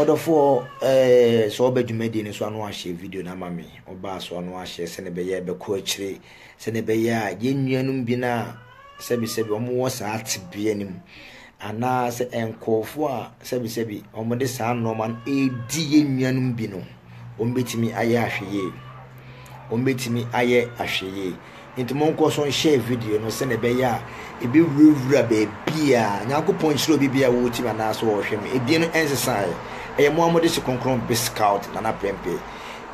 Ɔdɔfoɔ eh, sɛ ɔba dwumadie no so ano ahyɛ video no ama me. Ɔbaa so ano ahyɛ sɛne bɛyɛ bɛkɔ akyire sɛne bɛyɛ a yɛn nuanom bi no a sɛbisɛbi wɔn wɔ saa tebea no mu anaasɛ nkurɔfoɔ a sɛbisɛbi wɔn de saa nnoɔma no ɛredi yɛn nuanom bi no. Wɔbɛtumi ayɛ ahwɛyie. Wɔbɛtumi ayɛ ahwɛyie. Nti monkɔ so nhyɛ video no sɛdeɛ ɛbɛyɛ a ɛbɛwurawura baabiara. Nyankopɔn nhyira obi biara wɔ tim anaasɛ ɔhwɛ no. Edin no ɛnsesaeɛ. Ɛyɛ mo a mode hyɛ kronkron Big Scout Nana Prempeh.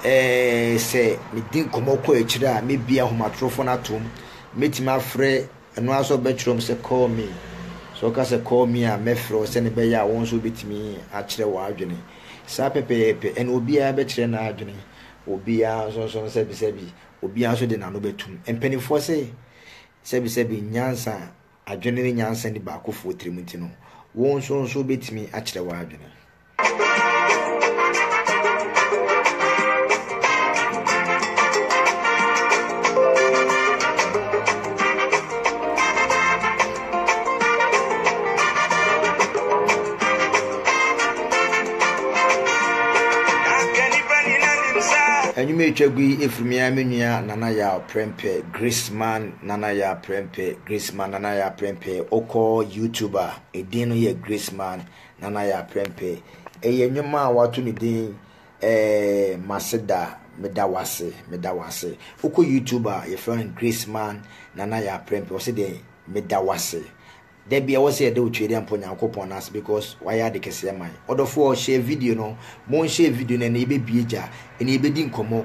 Ɛɛ sɛ medi nkɔmmɔ kɔ akyire a mɛbie ahomatorofoɔ no atom. Mɛtumi afrɛ. Ɛno ara sɛ ɔbɛkyerɛ wɔn sɛ Call me. Sɛ ɔka sɛ Call me a, mɛfrɛ wo, sɛnea ɛbɛyɛ a wɔn nso wobetumi akyerɛ wɔn adwene. Saa pɛpɛɛpɛ, ɛnna obiara bɛkyerɛ n'adwene, obiara nso nso no sɛbisɛbi, obiara nso de n'ano bɛtom. Mpanimfoɔ se, Sɛbisɛbi, nyansa, adwene ne nyansa nni baakofoɔ tirim nti no, wo nso nso wobetumi akyerɛ w'adwene. Anwuma etwa gu yi efiri me ara me nua Nana Yaw Prempeh Graceman Nana Yaw Prempeh Graceman Nana Yaw Prempeh wokɔ YouTube a edin no yɛ Graceman Nana Yaa Prempeh. Ɛyɛ nnwom a wɔato no din eh, Maseda, Meda Wo Ase, Meda Wo Ase. Wokɔ YouTube a, wɔfrɛ no Graceman Nana Yaa Prempeh. Ɔse deɛ, Meda Wo Ase. Da biara wɔ sɛ yɛde wo Twedeɛ mpo Nyankopɔn no ase because wayɛ ade kɛseɛ ma yɛn. Ɔdɔfoɔ, share video no, mo nhyɛ video no ɛnɛ yɛbɛbue gya, ɛnɛ yɛbɛdi nkɔmmɔ.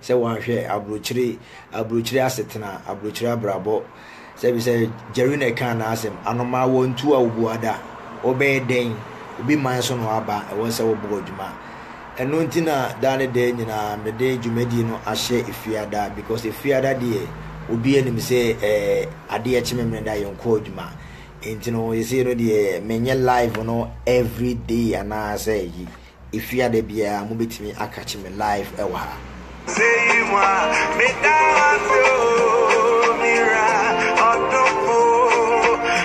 sɛ wɔanhwɛ aburokyire, aburokyire asetena, aburokyire abrabɔ, sɛ bi sɛ Jerry na ɛka n'asɛm, anomaa wɔ ntu a obu ada, wɔbɛyɛ dɛn, obi man so na wɔaba, ɛwɔ sɛ wɔbɔ adwuma. Ɛno nti na daa ne daa nyinaa mede dwumadie no ahyɛ Efiada because Efiada deɛ obi anim sɛ ɛɛ adeɛ kye Memeneda yɛn kɔ adwuma. Nti no yɛsei no deɛ menyɛ live no everyday anaasɛ yi Efia da biara mo betumi akakye me live ɛwɔ ha. Seyi mu a meda wase o mira ɔdomfo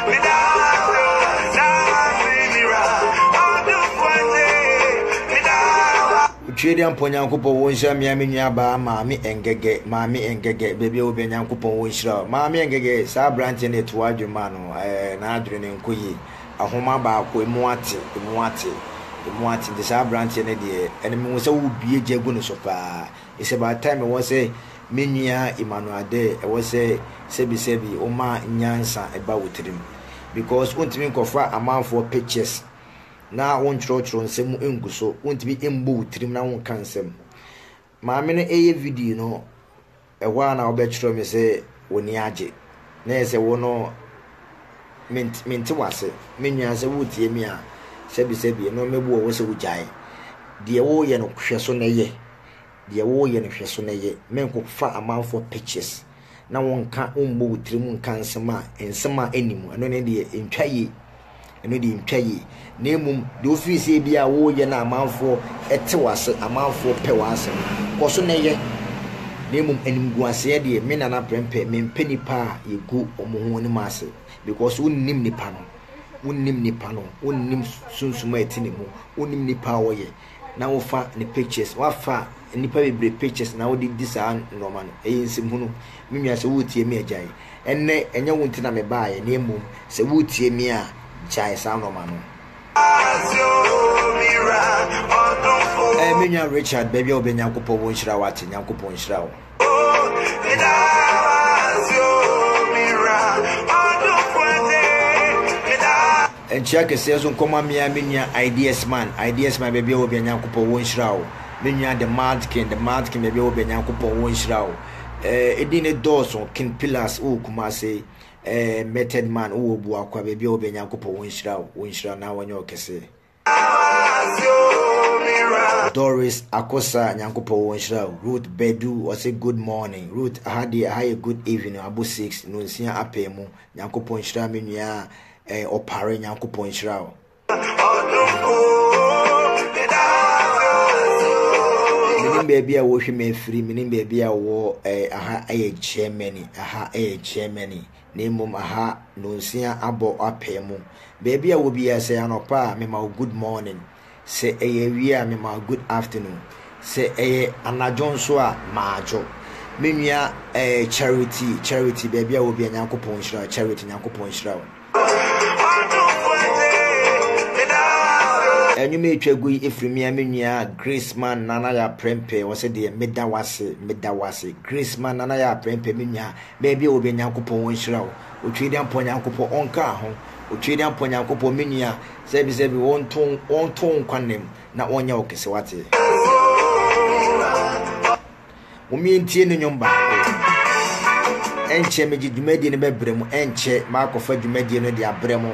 meda wase o da wase mira ɔdomfo agye meda wa. Otwie de ampɔ Nyankopɔn wo nhyira mea me nua baa maame ɛngɛgɛ maame ɛngɛgɛ baabi a wo bia Nyankopɔn wo nhyira wo maame ɛngɛgɛ saa abranteɛ no yɛ to w'adwene maa no ɛɛ n'adwene no nkɔ yie ahoma baako emu ate, emu ate, emu ate, nti saa aberanteɛ no deɛ, ɛno mehu sɛ wobue gya gu ne so paa, it's about time ɛwɔ sɛ me nua Emmanuel Adeh, ɛwɔ sɛ sɛbi sɛbi woma nyansa ba wo tirim, because wontumi nkɔfa amanfoɔ pictures na wontwerɛtwerɛ nsɛm ngu so, wontumi mmɔ wo tirim na wonka nsɛm. Maame no reyɛ video no, ɛhɔ ara na ɔbɛkyerɛw me sɛ w'ani agye, na ɛyɛ sɛ wo no ment mente w'ase. Me nua, sɛ woretie me a, sɛbisɛbi, ɛno mɛbu wɔ hɔ sɛ wogyae. Deɛ woreyɛ no, hwɛ so na yɛ. Deɛ woreyɛ no, hwɛ so na yɛ. Menkɔfa amanfoɔ pictures. na wonka wombɔ wo tirim nka nsɛm a nsɛm a ɛnni mu ɛno ne deɛ ɛntwa yie ɛno deɛ ɛntwa yie na mmom deɛ wofiri sɛ bi a woyɛ no amanfoɔ ɛte wase amanfoɔ pɛ w'asɛm kɔ so na ɛyɛ na mmom animguaseɛ deɛ me nana prɛmpɛ mempɛ nipa a yɛgu wɔn ho anim ase because wonnim nipa no wonnim nipa no wonnim sunsum a ɛte ne mu wonnim nipa a ɔyɛ na wo fa ne pictures wa fa nipa bebree pictures na wo de di saa nnoɔma no ɛyɛ nsɛm hunu me nua sɛ wo tie me a gyae ɛnɛ ɛnyɛ wo nti na me baa yɛ na mmom sɛ wo tie me a gyae saa nnoɔma no ɛɛ me nua Richard baabi a wo bɛ nyankopɔn wo nhyira wo ate nyankopɔn nhyira wo. Nkyia kɛseɛ nso nkɔma me ara me nua Ideas Man, Ideas Man baabi a wɔ biara Nyankopɔn wɔ nhyira wo. Me nua The Mad King, The Mad King baabi a wɔ biara Nyankopɔn wɔ nhyira wo. Eh, edin ne dɔɔso, King Pillars wɔ Kumase, eh, Method Man wɔ Obuakwa baabi a wɔ biara Nyankopɔn wɔ nhyira wo, wɔ nhyira na wɔnyɛ wo kɛseɛ. Doris Akosa Nyankopɔn wo nhyira wo. Ruth Badu ɔse good morning. Ruth aha deɛ aha yɛ good evening abo six nonsia apɛɛ mu Nyankopɔn nhyira me nua a eh, ɔpare Nyankopɔn nhyira wo. Menim baabi a wɔhwe me afiri menim baabi a wɔ eh, aha ɛyɛ Germany aha ɛyɛ Germany na mmom aha nnɔnsia abɔ apee mu. Baabi a wɔ biara, sɛ ɛyɛ anɔpa a, mema wo good morning, sɛ ɛyɛ awia a, mema wo good afternoon, sɛ ɛyɛ anadwo nso a, madwo. Me nua eh, Charity, Charity, baabi a wɔ biara, Nyankopɔn nhyira wo, Charity, Nyankopɔn nhyira wo. Ɛnwom a ɛtwa gu yi ɛfiri me a me nua Graceman Nana Yah Prempeh, ɔse deɛ meda wo ase, meda wo ase, Graceman Nana Yah Prempeh, me nua Baabi a wobia Nyankopɔn onhyira wo Otweediampɔ Nyankopɔ onkaa ho Otweediampɔ Nyankopɔ me nua sɛbi sɛbi onto onto wo nkwa nna mu na onyɛ wo kese wate. Mom yɛntie ne nwom baako Ɛnkyɛ megye dwumadie no bɛbrɛ mu Ɛnkyɛ makɔfa dwumadie no de abrɛ mo.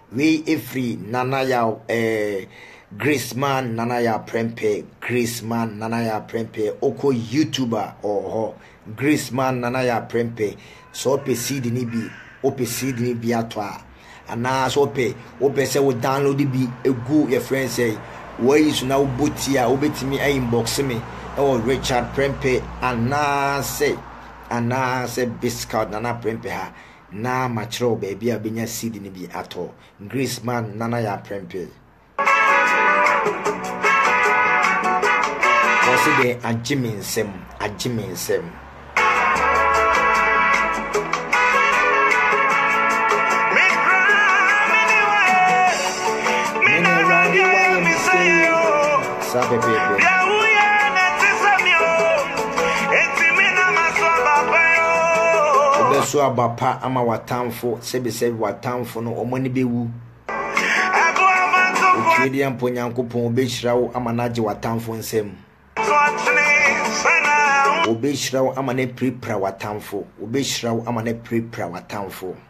Wei ɛfiri Nana Yaw ɛɛ Grace Man Nana Yaw Prempeh Grace Man Nana Yaw Prempeh Wokɔ YouTube a ɔwɔ hɔ Grace Man Nana Yaw Prempeh Sɛ wopɛ CD no bi wopɛ CD no bi atɔ a anaa sɛ wopɛ wopɛ sɛ wo download bi gu yɛfrɛ no sɛ woayi so na wobɔ ti a wobɛtumi a inbox me ɛwɔ Richard Prempeh anaasɛ anaasɛ Biscout Nana Prempeh ha na makyerɛ wo baabi a wobɛnya CD no bi atɔ. Grace Man Nana yɛ aprɛmpe. Wɔse dɛn agye me nsam, agye me nsam. Saa pɛpɛɛpɛso aba pa ama w'atamfo sɛbisɛbi w'atamfo no wɔn ani bɛwu otwie deɛ mpo nyankopɔn obɛhyira wo ama no agye w'atamfo nsam obɛhyira wo ama no apirapira w'atamfo obɛhyira wo ama no apirapira w'atamfo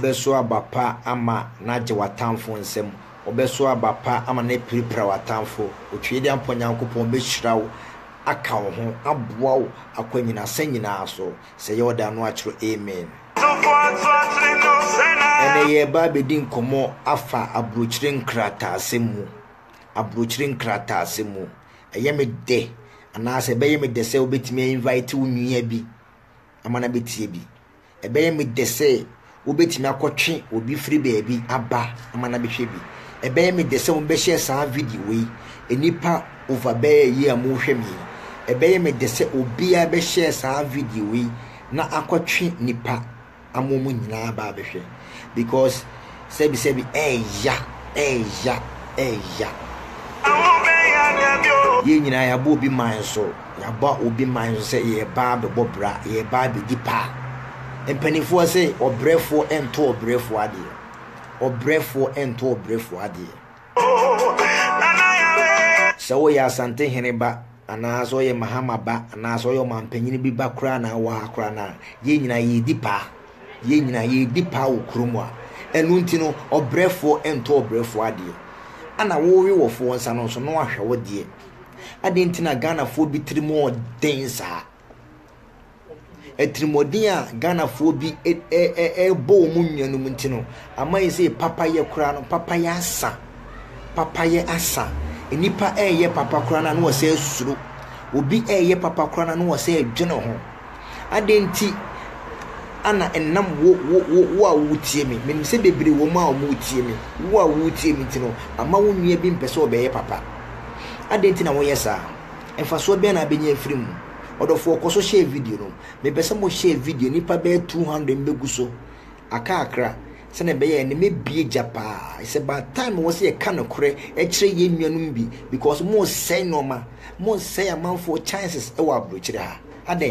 Wobɛso aba pa ama no agye w'atamfo nsam, wobɛso aba pa ama no apirapira w'atamfo. Otwedeampɔ Nyankopɔn bɛhyira wo, aka wo ho, aboa wo akɔ nnyinasa nyinaa so. Sɛ ɛyɛ wo dɛ a, ano akyerɛ Amen. Ɛnnɛ, yɛreba abɛdi nkɔmmɔ afa aburokyire nkrataasɛm mu. aburokyire nkrataase mu. Ɛyɛ me dɛ anaasɛ ɛbɛyɛ me dɛ sɛ wobɛtumi a invite wo nua bi ama no abɛtie bi. Ɛbɛyɛ me dɛ sɛ wobɛtumi akɔtwe obi firi baabi aba ama no abɛhwɛ bi. Ɛbɛyɛ me dɛ sɛ wobɛhyɛ saa video yi nnipa over bɛyɛ yi a mohwɛ me yi. Ɛbɛyɛ me dɛ sɛ obiara bɛhyɛ saa video yi na akɔtwe nnipa ama wɔn nyinaa aba abɛhwɛ because sɛbisɛbi ɛɛya ɛɛya ɛɛya. Yɛn nyinaa yɛabɔ obi man so yɛabɔ obi man so sɛ yɛreba abɛbɔ bra yɛreba abɛdi pa. Mpanimfoɔ sɛ ɔbrɛfoɔ ɛnto ɔbrɛfoɔ adeɛ ɔbrɛfoɔ ɛnto ɔbrɛfoɔ adeɛ. Sɛ woyɛ Asante hene ba anaa sɛ ɔyɛ Mahama ba anaa sɛ ɔyɛ ɔmanpanyin bi ba koraa na wɔ ha koraa na yɛn nyinaa yɛredi paa. Yɛn nyinaa yɛredi paa wɔ kurom a. Ɛno nti no, ɔbrɛfoɔ ntɔ ɔbrɛfoɔ adeɛ. Ana wowe wɔfoɔ nsa no nso na wahwɛ wo deɛ. Adɛn nti na Ghanafoɔ bi tirim yɛ den saa? Atirimuɔden a Ghanafoɔ bi ɛrebɔ wɔn nuanom nti no, ama yɛ sɛ papayɛ koraa no, papayɛ asa. Papayɛ asa. Nnipa ɛreyɛ papa koraa no a na wɔsɛ suro. Obi ɛreyɛ papa koraa no a na wɔsɛ dwene ho. Adɛn nti ana ɛnam wo wo wo wo a wotie me menim sɛ bebree wɔ mu a wɔretie me wo a wotie me nti no ama wo nua bi mpɛ sɛ ɔbɛyɛ papa adɛn nti na woyɛ saa mfasoɔ bɛn na abɛnya afiri mu Ɔdɔfoɔ kɔ so share video no. Mepɛ sɛ mo share video no nnipa bɛyɛ 200 mbɛgu so aka akra sɛdeɛ ɛbɛyɛ a ɛnɛ mɛbue gya paa. It's about time ɛwɔ sɛ yɛka nokorɛ kyerɛ yɛn nuanom bi because mo resɛe nnoɔma, mo resɛe amanfoɔ chances ɛwɔ aburokyire ha. Adɛn?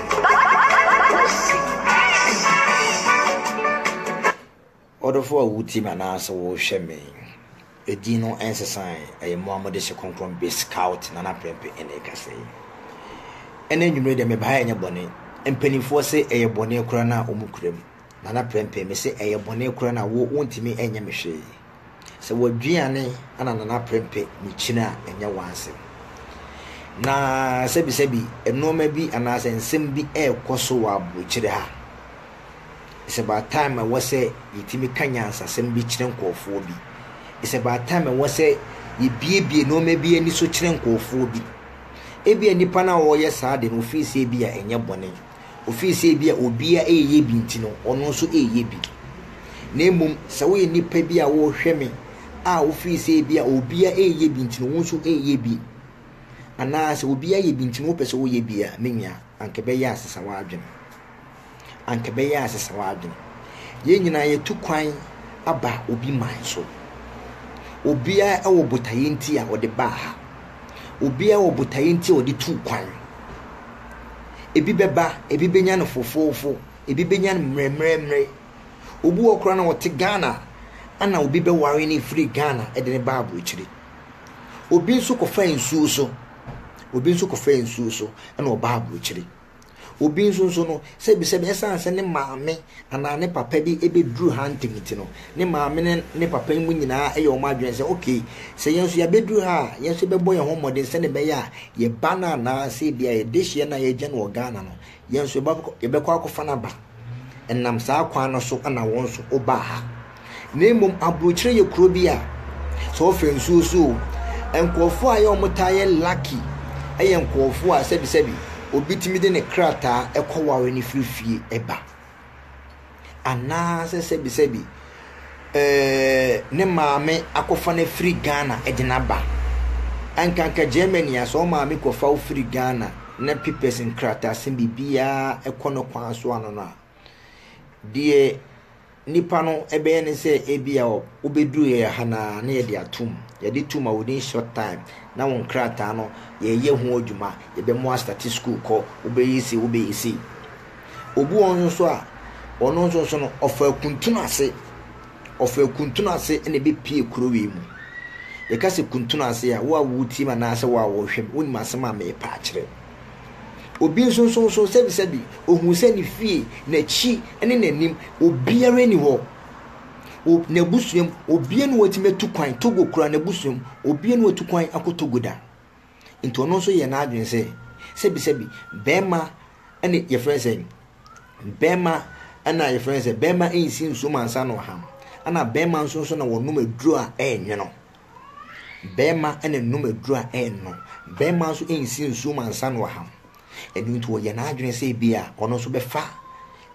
Ɔdɔfoɔ a wotie me anaa sɛ wohwɛ me Edin no nsesae Ɛyɛ mo a mode hyɛ kronkron be Scout Nana Prempeh ɛna ɛkasa yi Ɛnɛ anwumerɛ deɛ meba ha ɛnyɛ bɔne Mpanimfoɔ se ɛyɛ bɔne koraa no a wɔn kura mu Nana Prempeh mese ɛyɛ bɔne koraa no a wo wontumi ɛnyɛ me hwee Sɛ w'aduane na Nana Prempeh rekyini a, ɛnyɛ w'asɛm. Na sɛbisɛbi, nnoɔma bi anaasɛ nsɛm bi rekɔ so wɔ aburokyire ha. It's about time a ɛwɔ sɛ yɛtumi ka nyansasɛm bi kyerɛ nkurɔfoɔ bi. It's about time a ɛwɔ sɛ yɛbiebie nnoɔma bi ani so kyerɛ nkurɔfoɔ bi. Ebia nipa no a ɔreyɛ saa ade no, ɔfiri sɛ ebia ɛnyɛ bɔne. ofiri sɛ ebia obiara reyɛ bi nti no, ɔno nso reyɛ bi. Na mmom, sɛ woyɛ nnipa bi a wɔrehwɛ me a wofiri sɛ ebia obiara reyɛ bi nti no, wo nso reyɛ bi, anaa sɛ obiara yɛ bi nti no wopɛ sɛ woyɛ bi a, me nua, anka ɛbɛyɛ a sesa w'adwene. Anka ɛbɛyɛ a sesa w'adwene. Yɛn nyinaa yɛtu kwan aba obi man so. Obiara wɔ botaeɛ nti a ɔde baa ha. Obiara wɔ botaeɛ nti a ɔde tuu kwan. Ebi bɛba, ebi bɛnya no fofoofo, ebi bɛnya no mmerɛmmerɛmmerɛ. Obi wɔ koraa na ɔte Ghana ana obi bɛware no firi Ghana de no ba aburokyire. Obi nso kɔfa nsuo so, obi nso kɔfa nsuo so na ɔba aburokyire. Obi nso nso no, sɛbisɛbi ɛsiane sɛ ne maame anaa ne papa bi bɛduru ha ntɛm nti no, ne maame ne ne papa mu nyinaa yɛ wɔn adwene sɛ, ok, sɛ yɛn nso yɛabɛduru ha a, yɛn nso yɛbɛbɔ yɛn ho mmɔden sɛdeɛ ɛbɛyɛ a yɛn ba no anaasɛ ebia yɛn dehyeɛ no a yɛagya no wɔ Ghana no, yɛn nso yɛbɛkɔ akɔfa no aba. Ɛnam saa kwan no so na wɔn nso wɔbaa ha. Na mmom aburokyire yɛ kuro bi a sɛ wɔfa nsuo so o, nkurɔfoɔ a ɛyɛ wɔtaa yɛ lucky yɛ nkurɔfoɔ a sɛbisɛbi obi tumi de ne krataa kɔware no firi fie ba. Anaasɛ sɛbisɛbi eh, ne maame akɔfa no afiri Ghana de no aba. Anka anka Germany a, sɛ wo maame kɔfa wo firi Ghana na papers nkrataasɛm biribiara kɔ no kwan so ano no a, deɛ nipa no ɛbɛyɛ ne sɛ ebi a wobɛduru yɛ ha no a, na yɛde atom. Yɛde to ma within short time na wo nkrataa no yɛyɛ ho adwuma, yɛbɛmo astate school kɔ, wobɛyɛ sei, wobɛyɛ sei. Obi wɔ hɔ nso so a, ɔno nso so no, ɔfa akuntunu ase. Ɔfa akuntunu ase na ɛbɛpie kuro wei mu. Yɛka sɛ kuntunu ase a, wo a wotie mu anaasɛ wo a wɔrehwɛ mu, wonim asɛm a merepa akyerɛ. Obi nso nso so sɛbisɛbi, ohun sɛ ne fie, n'akyi ne n'anim, obiara ni hɔ. O n'abusuam, obiara ni wɔtumi atu kwan Togo kura n'abusuam, obiara ni wɔtu kwan akɔ Togo da. Nti ɔno nso yɛɛ n'adwene sɛ, sɛbisɛbi, bɛɛma ne yɛfrɛ no sɛn, bɛɛma na yɛfrɛ no sɛ, bɛɛma nsi nsuom ansa na ɔham, ɛna bɛɛma nso nso na wɔnom aduro a ɛɛnwono. Bɛɛma na ɛnom aduro a ɛɛnwono, bɛɛma nso nsi nsuom ansa na ɔham. Ɛno nti ɔyɛ n'adwene sɛ ebi a ɔno nso bɛfa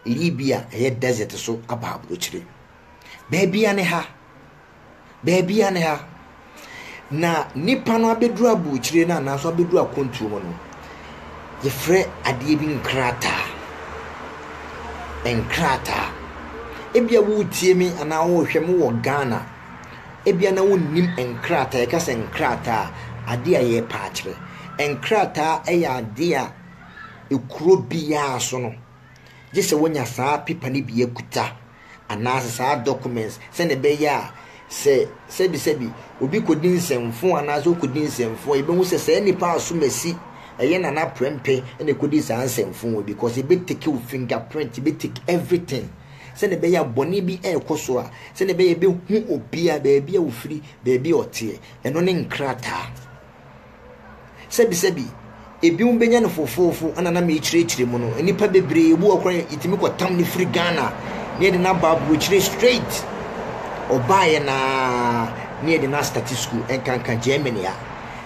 Libya ɛyɛ desert so aba aburokyire. Baabi a ne ha. Baabi a ne ha. Na nipa no abɛduru aburokyire no anaaso abɛduru akwantuo hɔ no, yɛfrɛ adeɛ bi nkrataa. Nkrataa. Ebia woretie me anaa worehwɛ me wɔ Ghana. Ebia na wonnim nkrataa. Yɛka sɛ nkrataa a, adeɛ a yɛrepɛ akyerɛ. Nkrataa yɛ adeɛ a ekuro biara so no, gye sɛ wonya saa pepa no bi akuta anaasɛ saa documents sɛnea ɛbɛyɛ a sɛ sɛbisɛbi obi kɔdi nsɛmfo anaasɛ ɔkɔdi nsɛmfo a yɛbɛhu sɛ saa nipa asomasi ɛyɛ nana prɛmpɛ na ɛkɔdi saa nsɛmfo wɔ bi kɔs ɛbɛ take wo finger print ɛbɛ take everything sɛnea ɛbɛyɛ a bɔne bi ɛrekɔ so a sɛnea ɛbɛyɛ ɛbɛhu obi a baabi a ɔfiri baabi a ɔteɛ ɛno ne nkrataa Sɛbisɛbi, ebinom benya no fofoofo na na merekyerɛkyerɛ mu no, nnipa bebree bi wɔ hɔ koraa a yetumi kɔtam no firi Ghana na yɛde no aba aburokyire straight. Ɔbaeɛ no ara na yɛde no astate sukuu, ɛnkanka Germany a.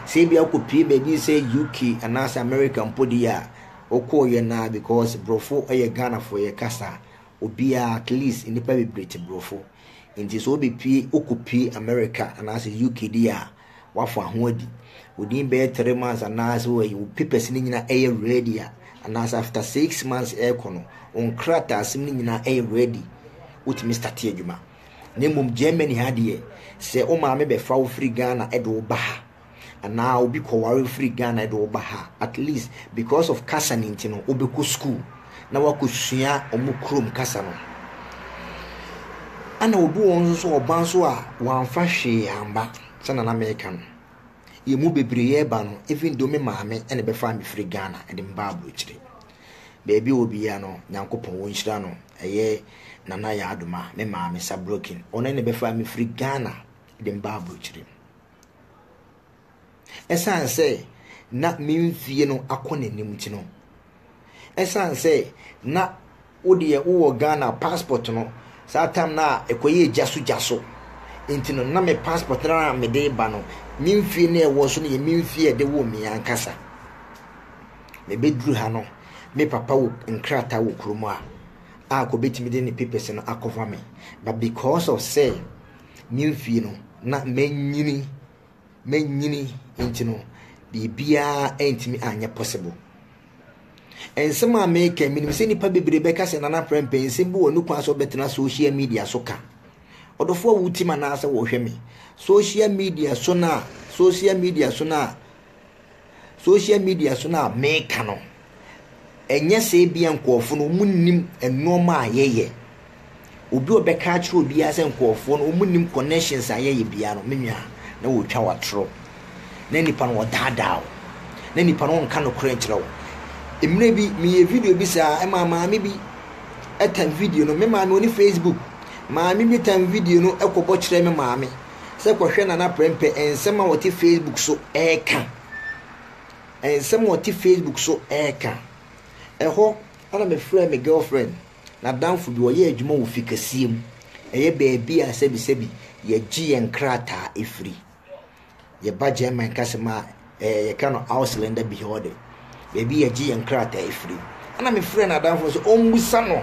Sɛ ebia wokɔpue baabi sɛ UK anaasɛ America mpo deɛ a, wokɔeɛ no ara because Borɔfo yɛ Ghanafoɔ yɛ kasa. Obiara, at least nnipa bebree te Borɔfo. Nti sɛ wobɛpue, wokɔpue America anaasɛ UK deɛ a, wafa ho adi within bɛyɛ three months anaasɛ wɔayi wo papers no nyinaa ɛyɛ ready a anaasɛ after six months ɛrekɔ no wo nkrataasɛm no nyinaa ɛyɛ ready wotumi starte adwuma na mmom germany ha deɛ sɛ wo maame bɛfa wo firi ghana ɛde wo ba ha anaa obi kɔware firi ghana ɛde wo ba ha at least because of kasa no nti no wobɛkɔ school na wɔakɔsua wɔn kurom kasa no. Ɛna obi wɔ nso so ɔba nso a wɔamfa hwee amba sɛna na meka no. Yɛn mu bebree yɛ ba no, even though me maame na ɛbɛfaa me firi Ghana de me baa aburokyire. Baabi a obiara no, Nyankopɔn wɔnhyira no, ɛyɛ Nana Yaadoma, me maame Sabrokin, ɔno na ɛbɛfaa me firi Ghana de me baa aburokyire. Ɛsiane sɛ na me mfie no akɔ n'anim nti no, ɛsiane sɛ na wo deɛ wowɔ Ghana passport no, saa tam no a ɛkɔyɛɛ gya so gya so nti no, na me passport no a mede ba no, me mfie no a ɛwɔ so no yɛ me mfie a ɛde woo me ankasa. Mebɛduru ha no, me papa wɔ nkrataa wɔ kurom a, a anka ɔbɛtumi de ne papers no akɔfa me. But because of sɛ me mfie no, na manyini manyini nti no biribiara antumi anyɛ possible nsɛm a meka menim sɛ nnipa bebree bɛka sɛ nana prɛmpɛ nsɛm bi wɔ ne kwan sɛ ɔbɛtena social media so ka ɔdɔfoɔ a wotim anaasɛ wɔhwɛ me social media so no a social media so no a Social media so no a meka no, ɛnyɛ sɛ ebia nkurɔfo no wɔnnim nneɛma a yɛyɛ. Obi a ɔbɛka akyerɛ obiara sɛ nkurɔfoɔ no wɔnnim connections a yɛyɛ biara no, me nua, na wɔretwa w'atorɔ. Na nipa no ɔdaadaa wo. Na nipa no ɔnka nokorɛ nkyerɛ wo. Mmerɛ bi, meyɛ video bi saa, ɛma maame bi ɛtan video no. Me maame ɔni Facebook. Maame bi tan video no kɔbɔ kyerɛɛ me maame. sɛ kɔhwɛ Nana Prɛmpɛ nsɛm a ɔte Facebook so reka. Nsɛm a ɔte Facebook so reka. Ɛhɔ na mefrɛɛ me girlfriend, n'adamfo bi, ɔyɛ adwuma wɔ fi kɛseɛ mu. Ɛyɛ baabi a sɛbisɛbi yɛgye yɛn nkrataa firi. Yɛba German ka sɛ ma ɛɛ yɛka no Ausländer Behörde, baabi yɛgye yɛn krataa firi. Ɛna mefrɛɛ n'adamfo no sɛ ɔmmisa no,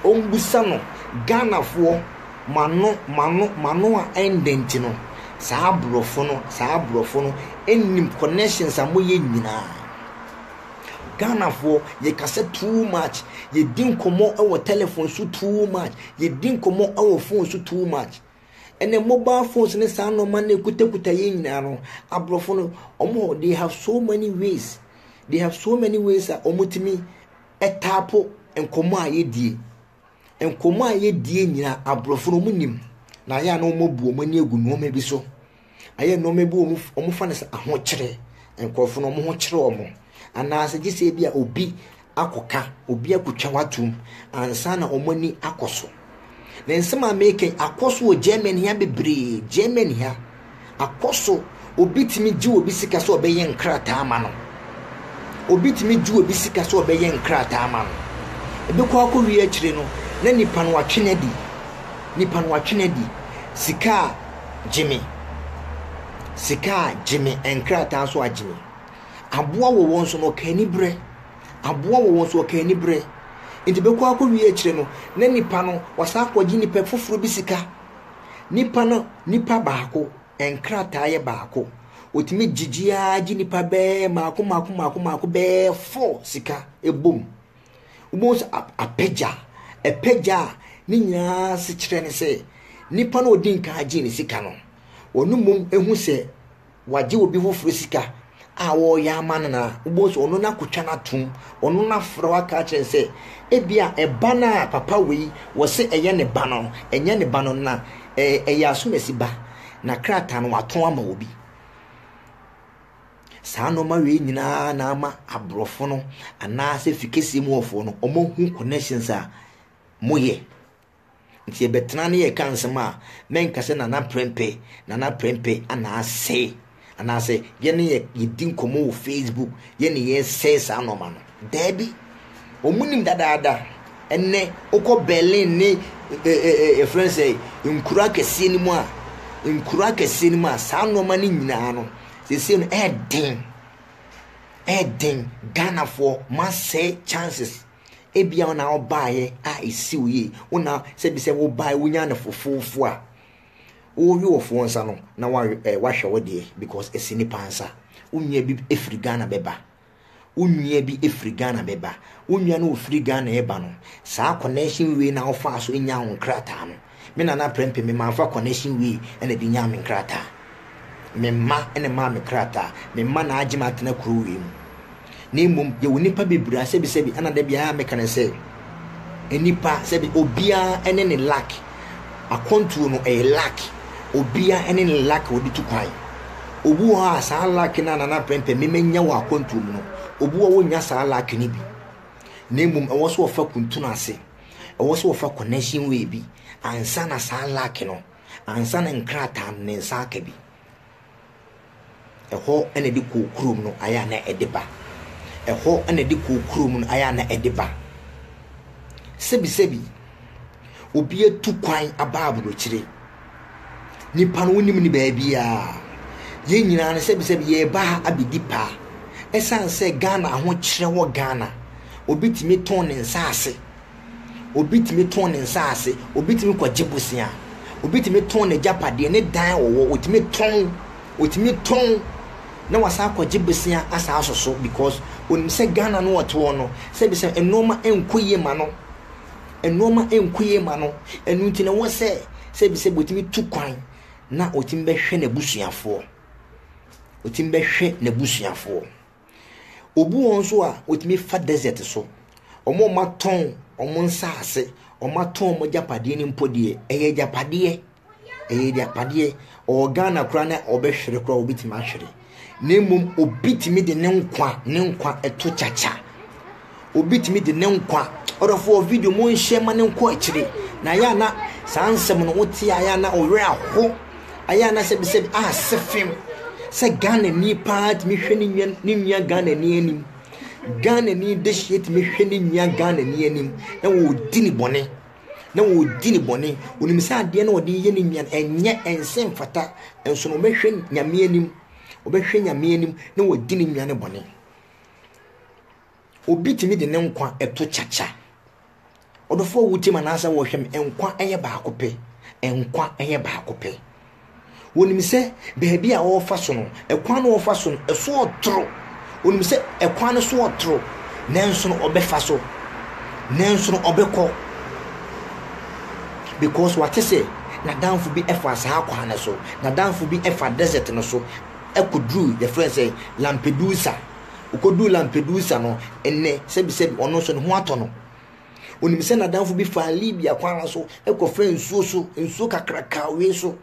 ɔmmisa no, Ghanafoɔ, m'ano, m'ano, m'ano a ɛndɛ nti no, saa aborɔfo no, saa aborɔfo no nnim connections a moyɛ nyinaa. Ghanafoɔ, yɛkasa too much, yɛdi nkɔmmɔ wɔ telephone so too much, yɛdi nkɔmmɔ wɔ phone so too much. Ɛnɛ mobile phones ne saa nnoɔma no ɛkutakuta yɛn nyinaa no, aborɔfo no wɔn hɔ they have so many ways they have so many ways a wɔtumi ɛtaapo nkɔmmɔ a yɛdie. Nkɔmmɔ a yɛdie nyinaa aborɔfo no wɔnim na ayɛ a na wɔabu wɔn ani agu nnoɔma bi so. Ayɛ nnoɔma bi wɔ hɔ wɔfa no sɛ ahokyerɛ, nkorɔfoɔ no wɔn ho kyere wɔn anaasɛ gye sɛ ebi a obi akɔka, obi akɔtwa w'atom ansa na wɔn ani akɔ so. Ne nsɛm a meka yi akɔ so wɔ Germany ha bebree, Germany ha akɔ so obi tumi gye obi sika sɛ ɔbɛyɛ nkrataa ama no. Obi tumi gye obi sika sɛ ɔbɛyɛ nkrataa ama no. Ebɛkɔ akɔ wie akyire no na nipa no atwe no adi, nipa no atwe no adi sika a Gyimi. Sika a, gyimi. Nkrataa nso a, gyimi. Aboa wɔ wɔn so no, ɔka aniberɛ. Aboa wɔ wɔn so, ɔka aniberɛ. Nti bɛkɔ akɔ wie akyire no, na nipa no, wasan akɔgye nipa foforɔ bi sika. Nipa no, nipa baako, nkrataa yɛ baako. Ɔtumi gyegye ara gye nipa bɛɛ maako maako maako maako bɛɛ four sika ɛbom. wobɛhu sɛ apagya apagya a ne nyinaa se kyerɛ ne sɛ nipa no ɔdi nkan agye ne sika no ɔno mmom ehu sɛ wagye obi foforɔ sika a ɔreyɛ ama no na wobɛhu sɛ ɔno no akotwa no atom ɔno no afrɛ waka akyerɛ sɛ ebi a ɛba no a papa wei wɔse ɛyɛ ne ba no ɛnyɛ ne ba no na ɛyɛ asomasi ba na krataa no watɔn ama obi Saa nnoɔma wei nyinaa na ama aborɔfo no anaasɛ fikeseɛ mu wɔfoɔ no wɔahu connections a moyɛ nti yɛbɛtena ne yɛka nsɛm a mɛnka sɛ nana prɛmpɛ nana prɛmpɛ anaasɛ anaasɛ yɛne yɛ yɛdi nkɔmmɔ wɔ facebook yɛne yɛsɛe saa nnoɔma no daabi wɔn nim dadaada ɛnɛ wokɔ berlin ne yɛfrɛ no sɛ nkura kɛseɛ no mu a nkura kɛseɛ no mu a saa nnoɔma no nyinaa no Seesei no ɛyɛ den, ɛyɛ den Ghanafoɔ moasɛe chances. Ebia wo na wobaeɛ a ɛsi wo yie, wo na sɛ bi sɛ wobaeɛ wonyaa no fofoofo a, worewe wɔ foɔ nsa no na wahwɛ wo deɛ because ɛsi nnipa nsa. Wo nua bi firi Ghana bɛba Wo nua bi firi Ghana bɛba. Wo nua no ɔfiri Ghana reba no, saa connection way na wofaa so nyaa wo nkrataa no. Me Nana Prempeh, me mamfa connection way na ɛde nyaa me nkrataa. Me mma na ɛmaa me krataa. Me mma na agye me atena kuro wei mu. Na mmom, yɛwɔ nnipa bebree a sɛbisɛbi, ɛna da biara meka no sɛ, Nnipa sɛbi obiara ne ne luck. Akwantuo no ɛyɛ luck. Obiara ne ne luck wɔde tu kwan. Obi wɔ hɔ a saa luck no a nana prɛmpɛ memanya wɔ akwantuo mu no, obi wɔ wɔnya saa luck no bi. Na mmom ɛwɔ so wɔfa kuntunu ase. Ɛwɔ so wɔfa connection wei bi ansa na saa luck no, ansa na nkrataa no ne nsa aka bi. Ɛhɔ na ɛde kɔɔ kurom no ayɛ a na ɛde ba. Ɛhɔ na ɛde kɔɔ kurom no ayɛ a na ɛde ba. Sɛbisɛbi, obi atu kwan aba aburokyire. Nipa no wonim ne baabiara. Yɛn nyinaa no sɛbisɛbi yɛreba ha abɛdi paa. Ɛsiane sɛ Ghana ahokyerɛ wɔ Ghana, obi tumi tɔn ne nsaase. Obi tumi tɔn ne nsaase, obi tumi kɔgye bosea, obi tumi tɔn n'agyapadeɛ, ne dan a ɔwɔ, ɔtumi tɔn, ɔtumi tɔn na wasan akɔgye bosea asan aso so because onim sɛ Ghana no ɔte hɔ no, sɛbi sɛ nnoɔma nkɔ yie ma no, nnoɔma nkɔ yie ma no, ɛno nti na ɛwɔ sɛ sɛbi sɛ ɔtumi tu kwan na ɔtumi bɛhwɛ n'abusuafoɔ, ɔtumi bɛhwɛ n'abusuafoɔ. Obu wɔn nso a, wɔtumi fa desert so. Wɔn a wɔatɔn wɔn nsaase, wɔatɔn wɔn agyapadeɛ no mpo deɛ, ɛyɛ agyapadeɛ. Ɛyɛ agyapadeɛ. Ɔwɔ Ghana koraa na ɔbɛhwere koraa wɔbɛtumi ahwere. Na mmom obi tumi de ne nkwa ne nkwa to kyakya. Obi tumi de ne nkwa. Ɔdɔfoɔ video mo nhyɛ ma ne nkɔ akyire. Na ayɛ ana saa nsɛm no wote ayɛ ana ɔwerɛ aho. Ayɛ ana sɛbi sɛbi a sefem. Sɛ Ghana ni paa tumi hwɛ ne nua ne nua Ghana ni anim. Ghana ni dehyeɛ tumi hwɛ ne nua Ghana ni anim na wɔdi ne bɔne. Na wɔdi ne bɔne. Onim sɛ adeɛ na ɔde yɛ ne nua no ɛnyɛ ɛnsɛ mfata. Nso na ɔbɛhwɛ nyame anim. Ɔbɛhwɛ nyame anim na wɔdi ne nua ne bɔne. Obi tumi de ne nkwa to kyakya. Ɔdɔfoɔ wotie ma naasɛ wɔhwɛ me nkwa yɛ baako pɛ nkwa yɛ baako pɛ wɔnim sɛ baabi a wɔrefa so no ɛkwan no wɔfa so no ɛso ɔtoro wɔnim sɛ ɛkwan no so ɔtoro nanso no ɔbɛfa so nanso no ɔbɛkɔ because wate sɛ n'adanfo bi ɛfa saa kwan no so n'adanfo bi ɛfa desert no so kɔduruu, yɛfrɛ no sɛ Lampedusa. Ɔkɔduruu Lampedusa no, ɛnnɛ, sɛbisɛbi, ɔno nso ne ho atɔ no. Onim sɛ n'adamfo bi faa Libya kwan no so kɔfaa nsuo so, nsuo kakraka wee so,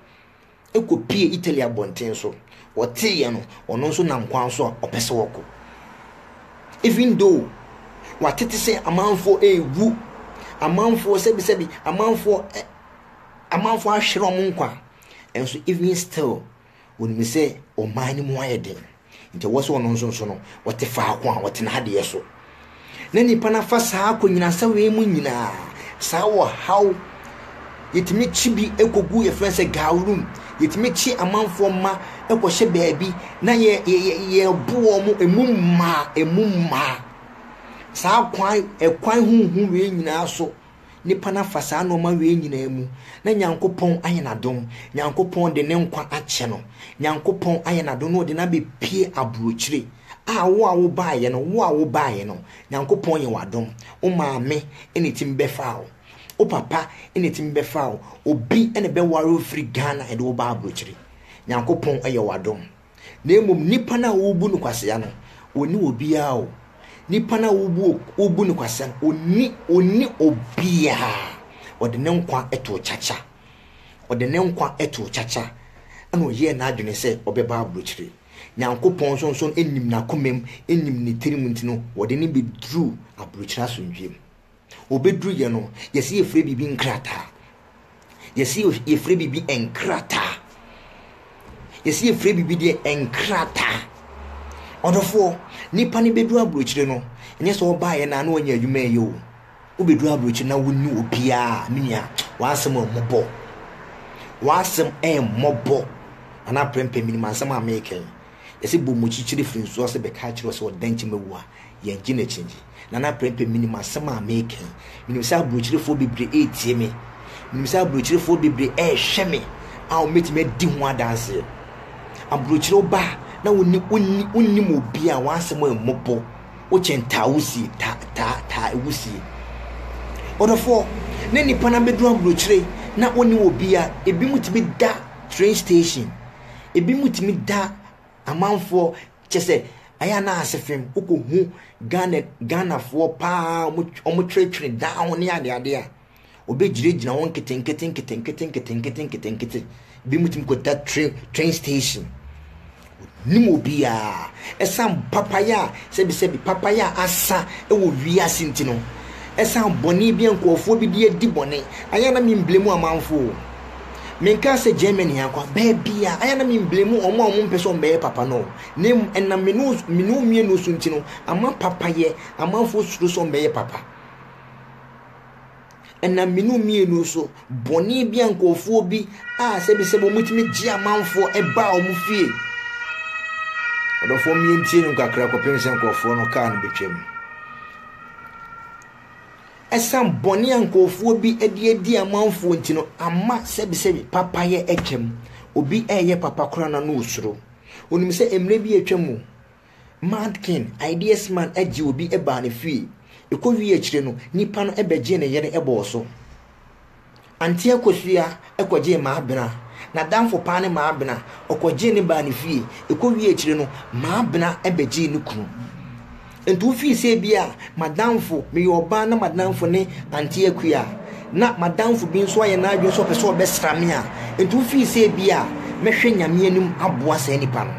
kɔpue Italy abɔnten so. Ɔteeɛ no, ɔno nso nam kwan so a ɔpɛ sɛ ɔkɔ. Even though watete sɛ amanfoɔ rewu, amanfoɔ sɛbisɛbi, amanfoɔ amanfoɔ ahwere wɔn nkwa, nso even still, Onim sɛ ɔman no mu ayɛ den, nti ɛwɔ sɛ ɔno nso nso no, ɔte faako a ɔtena adeɛ so. Na nipa no afa saa akɔnyinasɛm wei mu nyinaa, saa ɔhaw, yɛtumi kyi bi kɔgu yɛfrɛ sɛ gawrum, yɛtumi kyi amanfoɔ mma kɔhyɛ baabi na yɛbo wɔn mo, ɛmu mmaa, ɛmu mmaa. Saa kwan, ɛkwan huhu wei nyinaa so Nnipa no afa saa nnoɔma wei nyinaa mu na Nyankopɔn ayɛ n'adom, Nyankopɔn de ne nkwa akyɛ no, Nyankopɔn ayɛ n'adom na ɔde no abɛpue aburokyire. A wo a wo baeɛ no, wo a wo baeɛ no, Nyankopɔn yɛ w'adom. Wo maame na ɛtumi bɛfaa wo. Wo papa na ɛtumi bɛfaa wo. Obi na ɛbɛware wo firi Ghana de wo baa aburokyire. Nyankopɔn yɛ w'adom. Na mmom nnipa no a wobu no kwasea no, onni obiara o. Nnipa no a wobu, wobu no kwasea no, onni, onni obiara. Ɔde ne nkwa too kyakya. Ɔde ne nkwa too kyakya. Ɛna ɔyɛɛ n'adwene sɛ ɔbɛba aburokyire. Nyankopɔn nso nso nim n'akomam, nim ne tirim nti no, wɔde no bɛduruu aburokyire asomdwoeɛ mu. Obeduruyɛ no, yɛse yɛfrɛ biribi nkrataa. Yɛse yɛfrɛ biribi nkrataa. Yɛse yɛfrɛ biribi deɛ nkrataa. Ɔdɔfoɔ, nipa no bɛduru aburokyire no, ɛnyɛ sɛ ɔbaeɛ no a na wanya adwuma ɛyɛ o. Wobɛduru aburokyire na wonni obiara, me nua, w'asɛm ɛmmɔbɔ. W'asɛm ɛmmɔbɔ. Anaa prɛmpɛ menim asɛm a meekɛn. Yɛse bɔ mu kyikyiri firi nsuo ase bɛka akyerɛ wo sɛ ɔda nkyi mawu a, yɛngye no akyingye. Nana Prempeh menim asɛm a meeka yi. Menim sɛ aburokyirefoɔ bebree retie me. Menim sɛ aburokyirefoɔ bebree rehwɛ me a wɔbɛtumi adi ho adanseɛ. Aburokyire wo ba a na wonni, wonni, wonnim obi a w'asɛm ammu bo, wokyɛn taa wusie, taa, taa, taa ewusie. Ɔdɔfoɔ, na nnipa no abɛduru aburokyire na wɔnni obi a ebinom tumi da train station. Ebinom tumi da amanfoɔ kyɛ sɛ ayɛ a na ase fam wokɔhu Ghana Ghanafoɔ paa wɔn twerɛtwerɛ daa ho ne adeade a wɔbɛgyinagyina hɔ nketenkete nketenkete nketenkete nketenkete ebinom tumi kɔda train train station nim obiara ɛsan papaya a sɛbisɛbi papaya a asa wɔ wiase nti no ɛsan bɔne bi a nkurɔfoɔ bi de adi bɔne ayɛ na memblemu amanfoɔ Menkaa sɛ Germany anko a, baabi a, ayɛ na me mblame wɔn a wɔn mpɛ sɛ wɔn bɛyɛ papa no, na mmom ɛnam me ne me ne wɔn mmienu so nti no, ama papayɛ, amanfoɔ suro sɛ wɔn bɛyɛ papa. Ɛnam me ne wɔn mmienu so, bɔne bi a nkurɔfoɔ bi a sɛbisɛbi wɔn tumi gye amanfoɔ ɛbaa wɔn fie. Ɔdɔfoɔ mmientie no kakra kɔpem sɛ nkurɔfoɔ no kaa no bɛtwam. Ɛsiane bɔne a nkurɔfoɔ bi de adi amanfoɔ nti no, ama sɛbesɛbe papayɛ atwam. Obi reyɛ papa koraa no, na ɔsuro. Ɔnim sɛ mmerɛ bi atwam o, Mad King, Ideas Man, gyee obi baa ne fie. Ɛkɔwiee akyire no, nipa no bɛgyee ne yere bɔɔ so. Anteɛ kosua kɔgyee Maabena. N'adamfo paa ne Maabena. Ɔkɔgyee no baa ne fie. Ɛkɔwiee akyire no, Maabena bɛgyee ne kunu. Enti wofii sɛ ebia m'adamfo, meyɛ ɔbaa na m'adamfo ne Anteɛ kua, na m'adamfo bi nso ayɛ n'adwene sɛ ɔpɛ sɛ ɔbɛsra me a, enti wofii sɛ ebia mɛhwɛ Nyame anim aboa saa nipa no.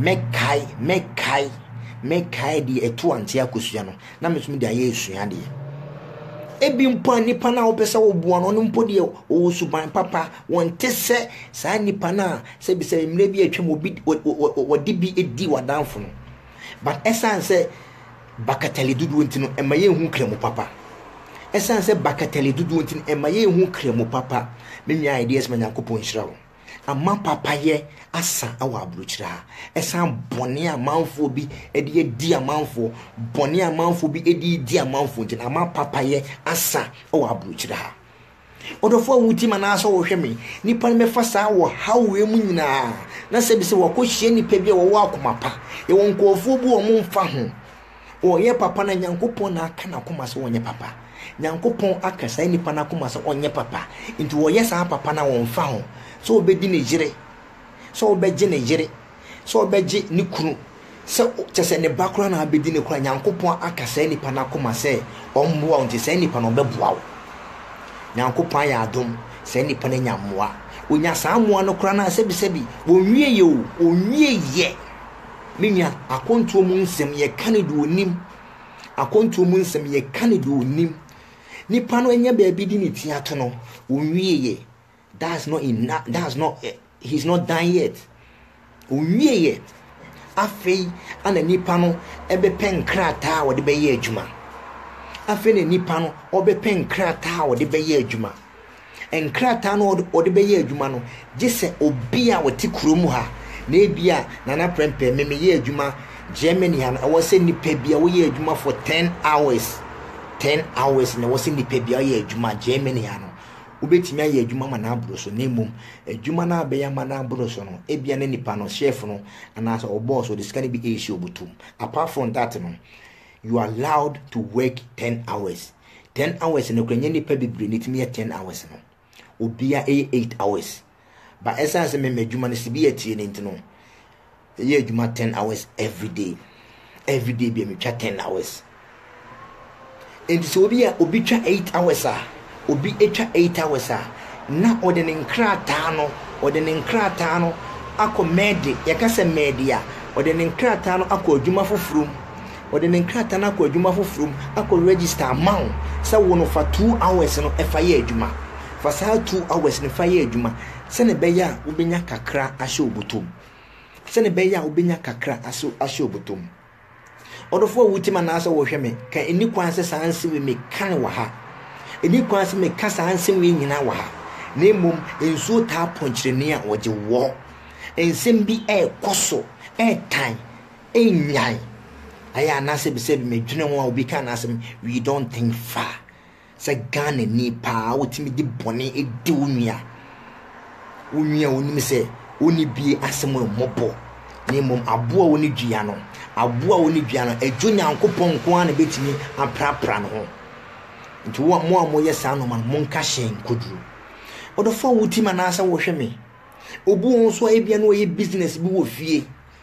Mɛkae, mɛkae, mɛkae deɛ ɛtoo Anteɛ kosua no. na metumi de ayɛ asuadeɛ. Ebi mpo a nipa no a wopɛ sɛ woboa no ɔno mpo deɛ ɔwɔ suban papa, wɔnte sɛ saa nipa no a sɛbisɛbi mmerɛ bi a atwam obi wɔde bi di w'adamfo no. But ɛsiane sɛ bakatali dodoɔ nti no, ɛma yɛnhu Kramo papa. Ɛsiane sɛ bakatali dodoɔ nti no, ɛma yɛnhu Kramo papa. Me nua Ideas ma Nyankopɔn nhyira wo. ama papayɛ asa wɔ aburokyire ha, ɛsan bɔne a amanfoɔ bi de adi amanfoɔ, bɔne a amanfoɔ bi de redi amanfoɔ nti na ama papayɛ asa wɔ aburokyire ha. Ɔdɔfoɔ a wotie ma anaasɛ wɔhwɛ me, nnipa no bɛfa saa wɔ hawoe mu nyinaa, na sɛ bi sɛ wɔakɔhyia nnipa bi a wɔwɔ akoma pa, yɛwɔ nkurɔfoɔ bi wɔn mfa ho, Ɔyɛ papa na Nyankopɔn na aka n'akoma sɛ ɔnyɛ papa. Nyankopɔn aka saa nipa no akoma sɛ ɔnyɛ papa. Nti ɔyɛ saa papa no a ɔmfa ho sɛ ɔbɛdi ne yere, sɛ ɔbɛgye ne yere, sɛ ɔbɛgye ne kunu, sɛ kyɛ sɛ ne ba koraa na abɛdi ne koraa. Nyankopɔn aka saa nipa no akoma sɛ ɔmmoa wo nti saa nipa no ɔbɛboa wo. Nyankopɔn ayɛ adom saa nipa no anya mmoa. Ɔnya saa mmoa no koraa no a sɛbisɛbi ɔnwieɛ o, ɔnwieɛ. Me nua, akwantuo mu nsɛm yɛka no deɛ ɔnim. Akwantuo mu nsɛm yɛka no deɛ ɔnim. Nipa no anya baabi de ne ti ato no, ɔnwieɛ. That's not enough. That's not, eh, he's not done yet. Ɔnwieɛ. Afei ana nipa no ɛbɛpɛ nkrataa a ɔde bɛyɛ adwuma. Afei na nipa no ɔbɛpɛ nkrataa a ɔde bɛyɛ adwuma. nkrataa no a wɔde bɛyɛ adwuma no, gye sɛ obi a ɔte kurom ha, na ebia Nana Prempeh, me meyɛ adwuma Germany ha no, ɛwɔ sɛ nnipa bi a woyɛ adwuma for ten hours, ten hours na ɛwɔ sɛ nnipa bi a ɔyɛ adwuma Germany ha no, wobɛtumi ayɛ adwuma ama no aboro so, na mmom adwuma no a bɛyɛ ama no aboro so no, ebia na nipa no, chef no, anaasɛ ɔbɔɔso, ɔde sika no bi ɛresi ɔbotom. Apart from that no, you are allowed to work ten hours. Ten hours no koraa ɛnyɛ nnipa bebree na ɛtumi yɛ ten hours no. Obiara ɛyɛ eight hours. But ɛsiane sɛ me m'adwuma no sibi atie no nti no, ɛyɛ adwuma ten hours everyday. Everyday bi a metwa ten hours. Nti sɛ obi a obi twa eight hours a, obi atwa eight hours a, na ɔde ne nkrataa no, ɔde ne nkrataa no akɔ mɛɛde, yɛka sɛ mɛɛde a, ɔde ne nkrataa no akɔ adwuma foforɔ mu. Ɔde ne nkrataa no akɔ adwuma foforɔ mu akɔ register ama wo sɛ wo no fa two hours no fa yɛ adwuma. Fa saa two hours no fa yɛ adwuma sɛdeɛ ɛbɛyɛ a wobɛnya kakra ahyɛ wo bɔtɔ mu. Sɛdeɛ ɛbɛyɛ a wobɛnya kakra ahyɛ wo bɔtɔ mu. Ɔdɔfoɔ a wotie me anaasɛ wohwɛ me, ka ɛni kwan sɛ saa nsɛm wei meka no wɔ ha. Ɛni kwan sɛ meka saa nsɛm wei nyinaa wɔ ha. Na mmom, nsuo taa pɔnkyerɛni a ɔgye woɔ. Nsɛm bi ɛrekɔ so, ɛretan. nnyae ayɛ anaasɛ bisa bi ma dwene ho a obi ka n'asɛm we don't think far sɛ ghana ni paa wotumi de bɔne di wo nua wo nua wonim sɛ woni bie asɛm a mmɔbɔ na mmom aboa wo ne dua no aboa wo ne dua no adwo nyankopɔn nko ara na bɛtumi aprapra no ho nti wo mo a moyɛ saa nɔma no monka hyɛn koduro ɔdɔfo a wotim anaasɛ wohwɛ me obu wɔn so a ebia na wɔyɛ business bi wɔ fie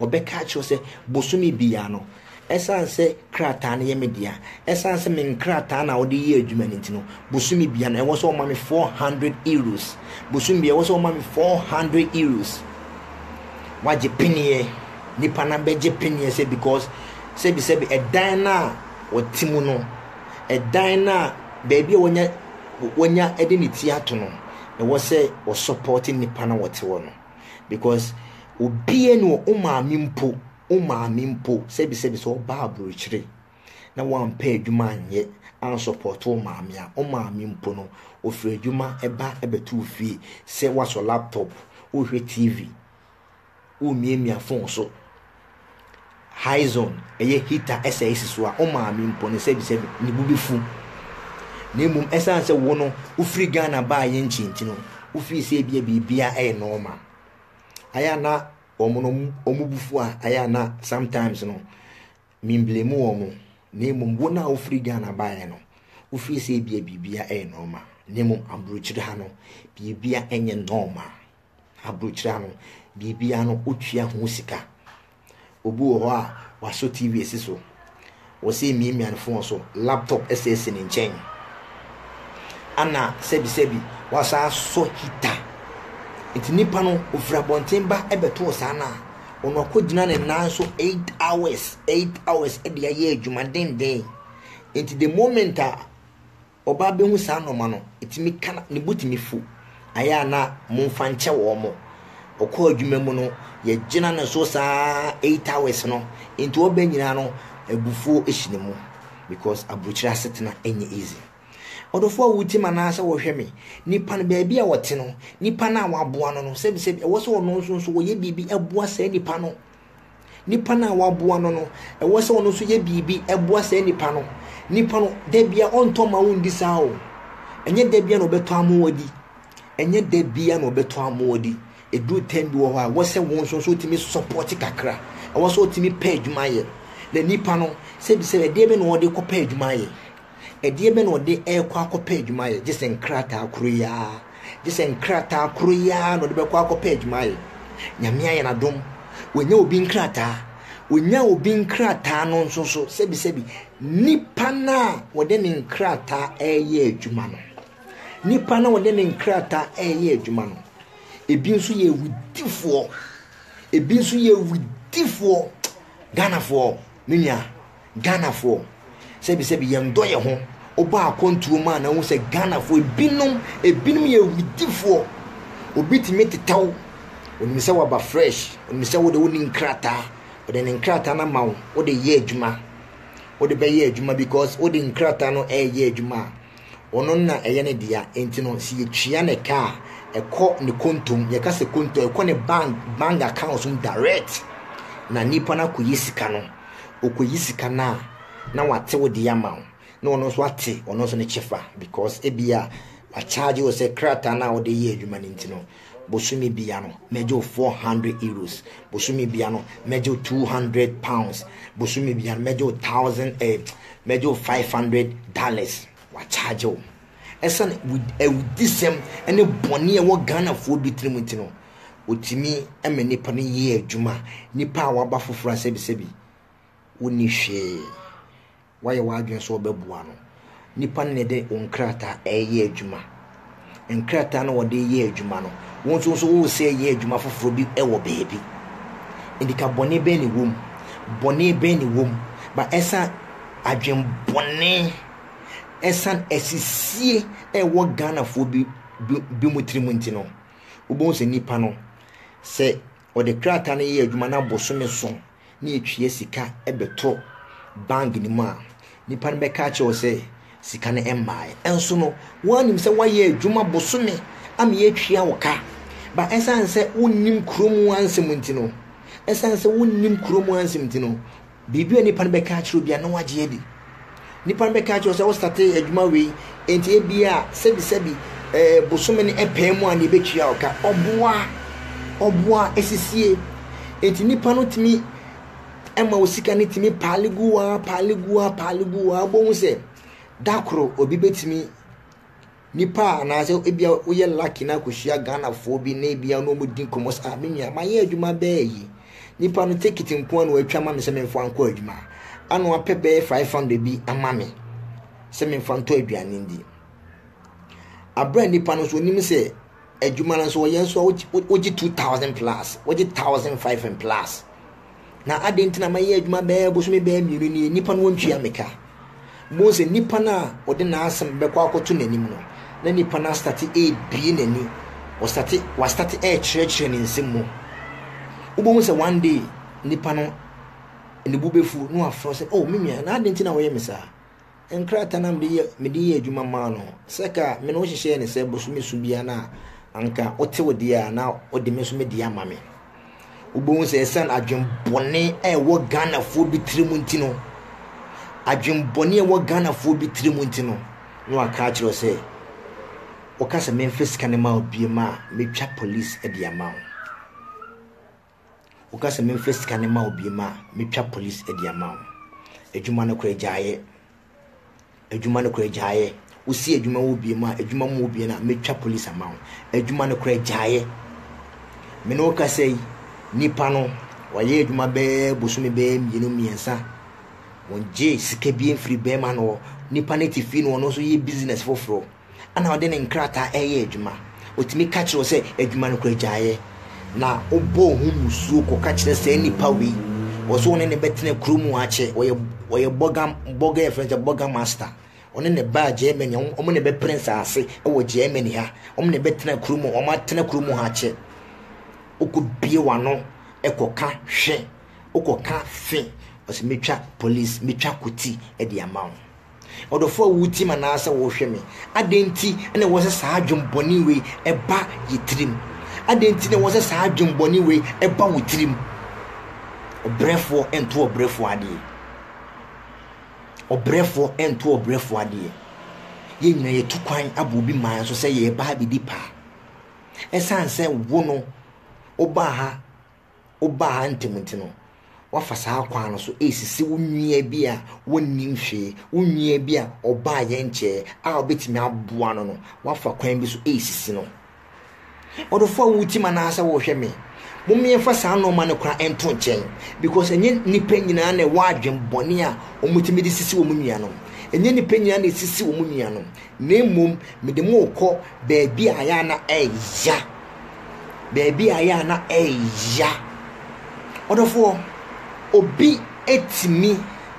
Wɔbɛka akyerɛ wo sɛ, bosome biara no, ɛsiane sɛ krataa no yɛ me dea, ɛsiane sɛ me nkrataa na wɔde yɛ adwuma no nti no, bosome biara no, ɛwɔ sɛ wɔma me four hundred euros. Bosome biara, ɛwɔ sɛ wɔma me four hundred euros. Wɔagye peneɛ. Nnipa no abɛgye peneɛ sɛ because sɛbisɛbi ɛdan no a wɔte mu no, ɛdan no a baabi a wɔnya wɔnya de ne ti ato no, ɛwɔ sɛ wɔsɔpɔte nnipa no a wɔte hɔ no. Because obiara ni hɔ, wo maame mpo, wo maame mpo, sɛbisɛbi sɛ ɔbaa aburokyire na wampɛ adwuma anyɛ ansɔpɔto wo maame a, wo maame mpo no, ɔfiri adwuma ba bɛto wo fie sɛ woasɔ laptop, worehwɛ TV, woremiamia phone so, high zone ɛyɛ heater ɛsɛ esi so a ɔmaame mpo ne sɛ bisɛ ne bu befu na mmom ɛsan sɛ wo no wofiri Ghana baa yɛn nkyi nti no wofii sɛ ebia biribia ɛyɛ normal ayɛ a na wɔn no wɔn bufu a ayɛ a na sometimes no memblemu wɔn na mmom wo no a wofiri Ghana baa yɛn no wofii sɛ ebia biribia ɛyɛ normal na mmom aburokyiri ha no biribia ɛnyɛ normal aburokyire ano, biribiara no wotua ho sika. Obi wɔ hɔ a wasɔ TV asi so, wɔsɛ emiamia ne fon so, laptop ɛsɛ asi ne nkyɛn. Ana sɛbisɛbi wasan asɔ hita. Nti nipa no ofiri abɔnten ba ɛbɛto ɔsaa no a, ɔno akɔgyina ne nan so eight hours, eight hours ɛde ayɛ adwuma denden. Nti the moment a Ɔbaa bɛhu saa nnoɔma no, ɛtumi ka ne bo tumi fu. Ayɛ a na momfa nkyɛ wɔn. Ɔkɔɔ adwuma mu no, yɛgyina ne so saa eight hours no, nti ɔba nyinaa no abufuo hyɛ ne mu because aburokyire asetena nyɛ easy. Ɔdɔfoɔ a wotie me anaasɛ wohwɛ me, nipa no baabi a ɔte no, nipa no a waboa no no, sɛbisɛbi ɛwɔ sɛ ɔno nso nso ɔyɛ biribi boa saa nipa no. Nipa no a waboa no no, ɛwɔ sɛ ɔno nso yɛ biribi boa saa nipa no. Nipa no, da bia ɔntɔ mma wo ndi saa o. Ɛnyɛ da bia na ɔbɛtɔ ama wo adi. Ɛnyɛ da bia na ɔbɛtɔ ama wo adi. Ɛduru time bi wɔ hɔ a, ɛwɔ sɛ wo nso nso wotumi support kakra. Ɛwɔ sɛ wotumi pɛ adwuma yɛ. Na nipa no, sɛbisɛbi ɛdeɛ bɛ na ɔde kɔpɛ adwuma ayɛ. Ɛdeɛ bɛn na ɔde rekɔ akɔpɛ adwuma ayɛ? Gye sɛ nkrataa koro yi ara. Gye sɛ nkrataa koro yi ara na ɔde bɛkɔ akɔpɛ adwuma ayɛ. Nyame ayɛ no adom. Wanya obi nkrataa. Wanya obi nkrataa no nso so sɛbisɛbi. Nipa no a wɔde ne nkrataa reyɛ adwuma no. Nipa no a wɔde ne nkrataa reyɛ adwuma no. Ebi nso yɛ awudifoɔ. Ebi nso yɛ awudifoɔ. Ghanafoɔ, me nua. Ghanafoɔ, sɛbi sɛbi yɛn dɔ yɛn ho, wobɔ akɔntuo mu a na wohu sɛ Ghanafoɔ ebinom, ebinom yɛ awudifoɔ, obi tumi teta wo, onim sɛ waba fresh, onim sɛ wode wonni nkrataa, ɔde ne nkrataa no ama wo, wode yɛ adwuma, wode bɛyɛ adwuma because wode nkrataa no ɛyɛ adwuma a, Ɔno na ɛyɛ ne dea. Enti no, sɛ yetua no ka a, ɛkɔ ne konto mu. Yɛka sɛ konto a, ɛkɔ ne bank bank account mu direct, na nipa no akoyi sika no. Okoyi sika no a, na wate wo de ama wo, na ɔno nso ate ɔno nso ne kyɛfa because ebia wɔacharge wo sɛ krataa no a wode yɛ adwuma no nti no, bosome bia no mɛgye wo four hundred euros bosome bia no mɛgye wo two hundred pounds bosome bia no mɛgye wo thousand eh, mɛgye wo five hundred dollars wakyagye wo ɛsane awudisɛm ne bɔne a ɛwɔ ghanafoɔ bi tirim nti no ɔtumi ma nnipa no yɛ adwuma nnipa a waba foforɔ asɛbisɛbi wonni hwee woayɛ w'adwene sɛ wobɛboa no. Nnipa no na ɛde wo nkrataa reyɛ adwuma. Nkrataa no wɔde yɛ adwuma no, wo nso nso woresɛ yɛ adwuma foforɔ bi wɔ baabi. Nti ka bɔne bɛn ne wom? Bɔne bɛn ne wom? Ba ɛsan adwene bɔne, ɛsan asisie ɛwɔ Ghanafoɔ bi bi mu tirim nti no, wobɛhu sɛ nnipa no sɛ ɔde krataa no yɛ adwuma na bosome so na yɛtwea sika bɛtɔ bank no mu a, nipa no bɛka akyerɛ wo sɛ sika no mmaeɛ. Ɛnso no, woanim sɛ woayɛ adwuma bosome ama yɛatwea wo ka. Ba ɛsiane sɛ wonnim kurom ansɛm nti no, ɛsiane sɛ wonnim kurom ansɛm nti no, Biribi a nnipa no bɛka akyerɛ wo biara, na woagye adi. Nnipa no bɛka akyerɛ wo sɛ wostate adwuma wei, enti ebia a sɛbisɛbi eh, bosome no ɛpɛɛ mu a na ebetua wo ka. Ɔboa, ɔboa, esisie. Enti nnipa no tumi ɛma wo sika no tumi paale gu hɔ ara, paale gu hɔ ara, paale gu hɔ ara. Wobɛhu sɛ da koro obi betumi Nipa a anaasɛ ebia woyɛ lucky na akɔhyia Ghanafoɔ bi na ebia na wɔdi nkɔmmɔ sɛ ah me nua mayɛ adwuma bɛyɛ yi nipa no tekiti nko ara na watwa ma me sɛ memfa nkɔ adwuma ana wapɛ bɛyɛ 500 bi ama me sɛ memfa ntɔ aduane ndi aberɛ a nipa no nso onim sɛ adwuma no nso wɔyɛ nso a wogye two thousand plus wogye thousand five and plus na adɛn nti na mayɛ adwuma bɛyɛ bosome bɛyɛ mmienu nie nnipa no wɔntua me ka bohu sɛ nnipa no a ɔde n'asɛm bɛkɔ akɔto n'anim no na nnipa no astate ɛrebie n'ani ɔstate wastate ɛrekyerɛkyerɛ ne nsɛm mu wobɛhu sɛ one day nnipa no ne bu bɛfu na wafrɛ sɛ oh me nua na adɛn nti na wɔyɛ me saa Nkrataa no a mede yɛ mede yɛ adwuma maa no sɛ ka me ne wo hyehyɛɛ ne sɛ bosome su biara no a anka wote wo deɛ a na wode me nso me deɛ ama me. Wobɛhu sɛ ɛsiane adwembɔne a ɛwɔ Ghanafoɔ bi tiri mu nti no adwembɔne a ɛwɔ Ghanafoɔ bi tiri mu nti no na waka akyerɛ sɛ woka sɛ memfa sika no ma wo biem a mɛtwa police de ama wo. Woka sɛ memfa sika no mma wo bio ma a, metwa polis de ama wo. Adwuma no koraa gyaeɛ. Adwuma no koraa gyaeɛ. Wosi adwuma wɔ bio ma adwuma mu wɔ bio no a, metwa polis ama wo. Adwuma no koraa gyaeɛ. Me ne wo kasa yi, nipa no, wayɛ adwuma bɛɛ bosome bɛɛ mmienu mmiɛnsa. Wɔgye sika bi mfiri bɛrima no hɔ. Nipa no te fie no, ɔno nso yɛ business foforɔ. na ɔde ne nkrataa reyɛ adwuma. Otumi ka kyerɛ wo sɛ adwuma no kora gyaeɛ, na wobɔ wo ho musuo kɔka kyerɛ saa nipa wei. Wɔ so wo ne ne bɛtena kuro mu akyɛ. Ɔyɛ ɔyɛ bɔga bɔga yɛfrɛ sɛ bɔga master. Ɔne ne baa Germany, wɔn ne bɛpere nsaase wɔ Germany ha. Wɔn ne bɛtena kuro mu, wɔn atena kuro mu ha akyɛ. Wokɔbie w'ano kɔka hwe, wokɔka fe, ɔsɛ metwa police, metwa koti de ama wo. Ɔdɔfo a wutie me anaasɛ wohwɛ me, adɛn nti na ɛwɔ sɛ saa adwen bɔne wei ɛba yɛ tirim? Adɛn nti na ɛwɔ sɛ saa adwen bɔne wei ɛba wo tirim? Ɔbrɛfoɔ nto ɔbrɛfoɔ adeɛ. Ɔbrɛfoɔ nto ɔbrɛfoɔ adeɛ. Yɛn nyinaa yɛtu kwan abɔ obi man so sɛ yɛreba ha bɛdi paa. Ɛsiane sɛ wo no, wobaa ha wobaa ha ntɛm nti no, woafa saa kwan no so resisi wo nua bi a wonnim hwee, wo nua bi a ɔbaa yɛn nkyɛe a wobɛtumi aboa no no, woafa kwan bi so resisi no. Ɔdɔfo a wotim anaasɛ wohwɛ me, mommeɛmfa saa nnoɔma no koraa nto nkyɛn because ɛnyɛ nnipa nyinaa na ɛwɔ adwen bɔne a wɔtumi de sisi wɔn nuanom. Ɛnyɛ nnipa nyinaa na ɛsisi wɔn nuanom, na mmom mede mo rekɔ baabi a ayɛ a na ɛyɛ ya. baabi a yɛ a na ɛya. Ɔdɔfoɔ, obi ɛtumi,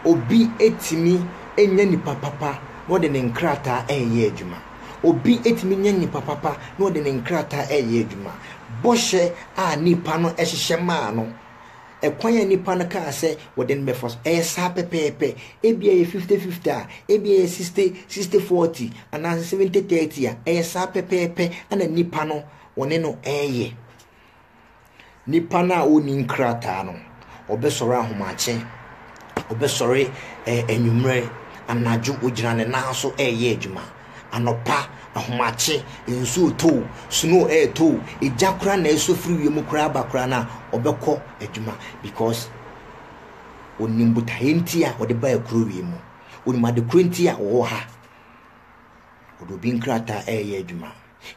obi ɛtumi ɛnyɛ nipa papa na ɔde ne nkrataa ɛyɛ adwuma. Obi ɛtumi nyɛ nipa papa na ɔde ne nkrataa ɛyɛ adwuma. Bɔhyɛ a nipa no ɛhyehyɛ maa no Ɛkwan a nnipa no kaa sɛ wɔde no bɛfa so, ɛyɛ saa pɛpɛɛpɛ. Ebia ɛyɛ fifty-fifty a, ebia ɛyɛ sixty, sixty-forty, anaasɛ seventy-thirty a, ɛyɛ saa pɛpɛɛpɛ na nnipa no wɔne no reyɛ. Nipa no a ɔnni nkrataa no, ɔbɛsɔre ahomakye, ɔbɛsɔre anwummerɛ, anadwo, ɔgyina ne nan so reyɛ adwuma. Anɔpa, ahomakye, nsu retɔ o, snow retɔ o, egya koraa na ɛresɔ firi wiem koraa ba koraa no a, ɔbɛkɔ adwuma because onim botaeɛ nti a ɔde baa kuro wei mu. Onim ade korɔ nti a ɔwɔ ha. Ɔde obi nkrataa ɛreyɛ adwuma.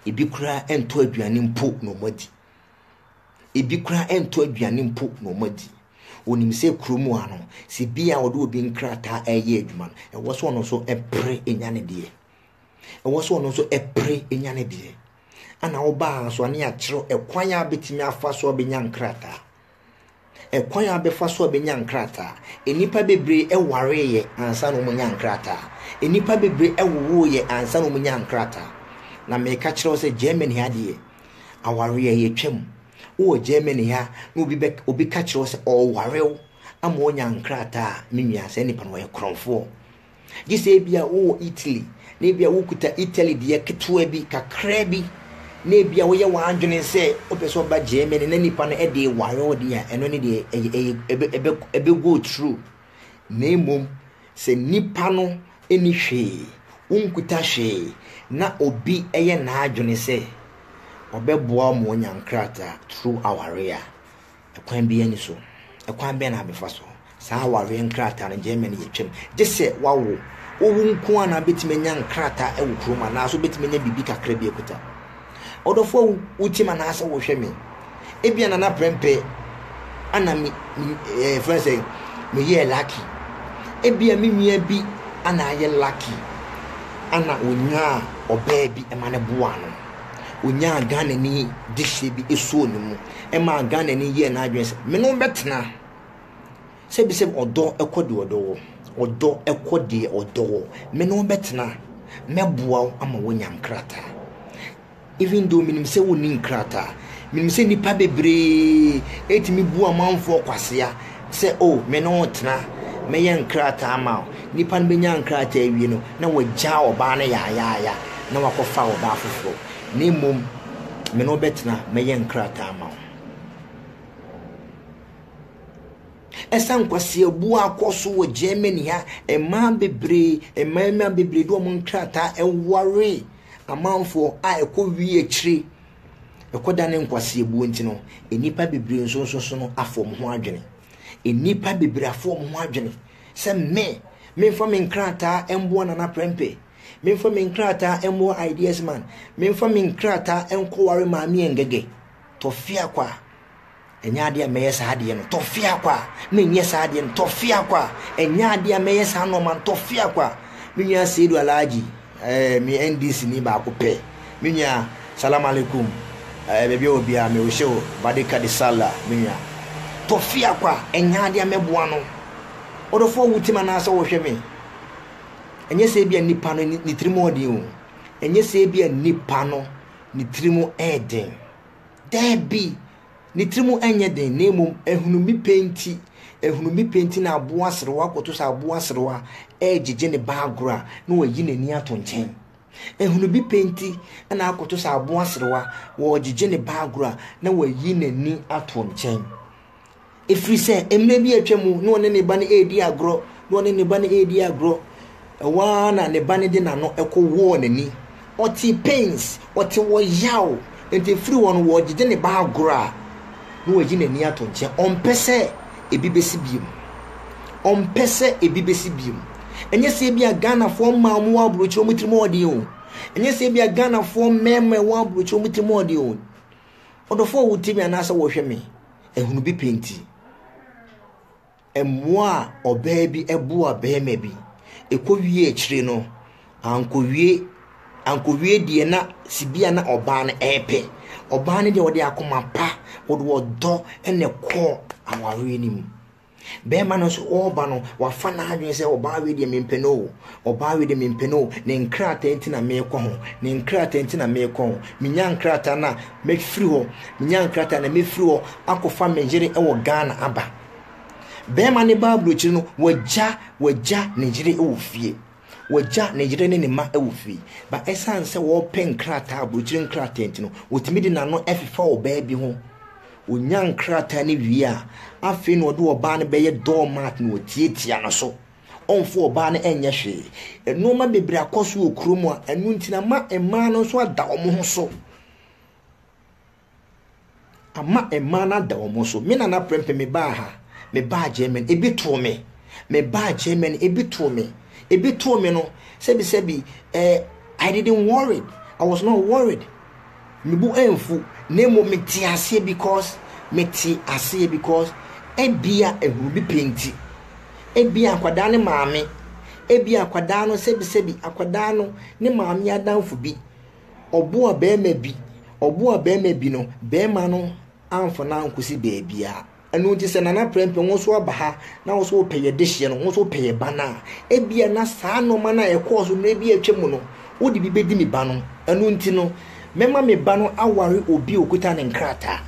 Ebi koraa ɛntɔ aduane mpo na wɔadi. Ebi koraa ɛntɔ aduane mpo na wɔn adi. Wɔnim sɛ kuro mu ha no, sɛ bi a wɔde obi nkrataa ɛreyɛ adwuma no, ɛwɔ sɛ ɔno nso ɛpere enya ne deɛ. Ɛwɔ sɛ ɔno nso ɛpere enya ne deɛ. Ana wobaa nso a ne yɛakyerɛ ɛkwan a bɛtumi afa so a bɛnya nkrataa. Ɛkwan a bɛfa so a bɛnya nkrataa. Nnipa bebree wareeɛ ansa na wɔnya nkrataa. Nnipa bebree wowoeɛ ansa na wɔnya nkrataa. Na meka kyerɛ wo sɛ Germany ha deɛ, awareɛ a yɛtwam. Wowɔ Germany ha na obi bɛ obi ka kyerɛ wo sɛ ɔreware wo ama woanya nkrataa a, me nua saa nipa no ɔyɛ korɔmfoɔ. Gye sɛ ebia wowɔ Italy, na ebia wukuta Italy deɛ ketewa bi, kakraa bi, na ebia woyɛ w'adwene sɛ wopɛ sɛ woba Germany na nipa no de ware wo deɛ a, ɛno ne deɛ ɛyɛ ɛyɛ ɛbɛ ɛbɛ ɛbɛ go through. Na mmom sɛ nipa no nni hwee, wonkuta hwee, na obi yɛ n'adwene sɛ ɔbɛboa wo ma woanya nkrataa through aware a, Ɛkwan biara nni so. Ɛkwan bɛn na abɛfa so? Saa awareɛ nkrataa no gyɛɛ mɛ no yɛtwam. Gye sɛ wawo. Wowu nko ara na wobɛtumi anya nkrataa wɔ kurom anaasɛ wobɛtumi anya biribi kakra bi akuta. Ɔdɔfo awu, wotim anaasɛ wohwɛ me. Ebia na na prɛmpɛ ana me, me ɛɛ fɛn sɛ meyɛɛ lucky. Ebia me nua bi ana ayɛ lucky ana onyaa ɔbaa bi ma no boaa no. Onyaa Ghanani dehyeɛ bi esuo no mu. ɛmaa Ghanani yɛɛ n'adwene sɛ, me ne wo bɛtena. Sɛbisɛbi ɔdɔ kɔ deɛ ɔdɔ wɔ. Ɔdɔ kɔ deɛ ɔdɔ wɔ. Me ne wo bɛtena. Mɛboa wo ama woanya nkrataa. Even though menim sɛ wonni nkrataa, menim sɛ nnipa bebree ɛtumi bu amanfoɔ kwasea sɛ o oh, me ne wo tena, mɛyɛ nkrataa ma wo. Nnipa no bɛnya nkrataa awie no, na wɔagya ɔbaa no yaayaaya, na wakɔfa ɔbaa foforɔ. na mmom me ne wo bɛtena mɛyɛ nkrataa ama wo. Ɛsan nkwaseabu akɔ so wɔ Germany ha, mmaa bebree, mmarima bebree de wɔn nkrataa ɛware amanfoɔ a ɛkɔ wie akyire ɛkɔda ne nkwaseabuo nti no nnipa bebree nso nso so no afɔ wɔn ho adwene nnipa bebree afɔ wɔn ho adwene sɛ me memfa me nkrataa mboa nana prɛmpɛ Memfa me nkrataa mmoa Ideas Man. Memfa me nkrataa nkɔware Maame Ngege. Tɔfea kwa. Ɛnyɛ adeɛ a mɛyɛ saa adeɛ no. Tɔfea kwa. Menyɛ saa adeɛ no. Tɔfea kwa. Ɛnyɛ adeɛ a mɛyɛ saa nɔɔma no. Tɔfea kwa. Me nua Seidu Alhaji, ɛɛ, eh, me NDC ni baako pɛ. Me nua, salam alaikum, ɛɛ, eh, baabi a obiara, me wohyɛ o, badika de sala, me nua. Tɔfea kwa. Ɛnyɛ adeɛ a mɛboa no. Ɔdɔfoɔ wo tim anaasɛ wɔhwɛ me? Ɛnyɛ sɛ ebia nipa no ne tirim yɛ den o. Ɛnyɛ sɛ ebia nipa no ne tirim yɛ den. Daabi, ne tirim nyɛ den na mmom ahunumi pɛ nti, ahunumi pɛ nti na aboa serewa kɔto sɛ aboa serewa regyegye ne ba agorɔ a, na wayi n'ani ato nkyɛn. Ahunumi pɛ nti na akɔto sɛ aboa serewa wɔregyegye ne ba agorɔ a, na wayi n'ani ato nkyɛn. Ɛfiri sɛ mmerɛ bi atwa mu na ɔne ne ba no redi agorɔ, na ɔne ne ba no redi agorɔ. Ɛhɔ ara na ne ba no de n'ano kɔwɔɔ n'ani. Ɔte pains, ɔte ɔyaw. Nti ɛfiri hɔ no, wɔgyegye ne ba agorɔ a, na wayi n'ani ato nkyɛn. Ɔmpɛ sɛ ɛbi bɛsi bio. Ɔmpɛ sɛ ɛbi bɛsi bio. Ɛnyɛ sɛ ebia Ghanafoɔ mmaa a wɔwɔ aburokyire wɔn tirim yɛ ɔden o. Ɛnyɛ sɛ ebia Ghanafoɔ mmarima a wɔwɔ aburokyire wɔn tirim yɛ ɔden o. Ɔdɔfo a wotie me anaasɛ wɔhwɛ me ahunu bi pɛ nti, mmoa a ɔbaa bi boa barima bi ekowie akyire no, ankowie ankowie deɛ na sibia na ɔbaa no ɛrepɛ. Ɔbaa no deɛ ɔde akoma pa, ɔde ɔdɔ na ɛkɔɔ awareɛ no mu. Bɛrima no nso ɔreba no, wafa n'adwene sɛ ɔbaa wei deɛ mempɛ no o, ɔbaa wei deɛ mempɛ no o, ne nkrataa nti na merekɔ ho, ne nkrataa nti na merekɔ ho, menya nkrataa na mɛfiri hɔ, menya nkrataa na mɛfiri hɔ akɔfa me yere wɔ Ghana aba. Bɛrima no ba aburokyire no, wagya wagya ne yere wɔ fie. Wagya ne yere ne ne mma wɔ fie, but ɛsan sɛ ɔrepɛ nkrataa, aburokyire nkrataa nti no, ɔtumi de n'ano ɛfefa ɔbaa bi ho. Ɔnya nkrataa no wie a, afei na ɔde ɔbaa no bɛyɛ door mat na watiatia no so. Ɔmfa ɔbaa no ɛnyɛ hwee. Nnoɔma bebree akɔ so wɔ kurom a, ɛno nti na ama mmaa no nso ada wɔn ho so. Ama mmaa no ada wɔn so. Me nana prɛmpɛ me baa ha, me baa Germany, ebi too me. Me baa Germany, ebi too me. Ebi too me no, sɛbi sɛbi, eh, I didn't worry. I was not worried. Me bo amfu, na mmom me te aseɛ because, me te aseɛ because, ebia ehunu bi pɛ nti. Ebia akwadaa ne maame, ebia akwadaa no sɛbi sɛbi, akwadaa no ne maame adamfo bi. Ɔboa barima bi, ɔboa barima bi no, barima no amfa no ankosi baabiara. Ɛno nti sɛ Nana Prɛmpɛ wo nso aba ha na wo nso wopɛ yɛ dehyeɛ no, wo nso wopɛ yɛ ba no a, ebia na saa nneɛma no a ɛkɔɔ so mmerɛ bi a atwa mu no, wode bi bɛdi me ba no. Ɛno nti no, mɛma me ba no aware obi a ɔkuta ne nkrataa.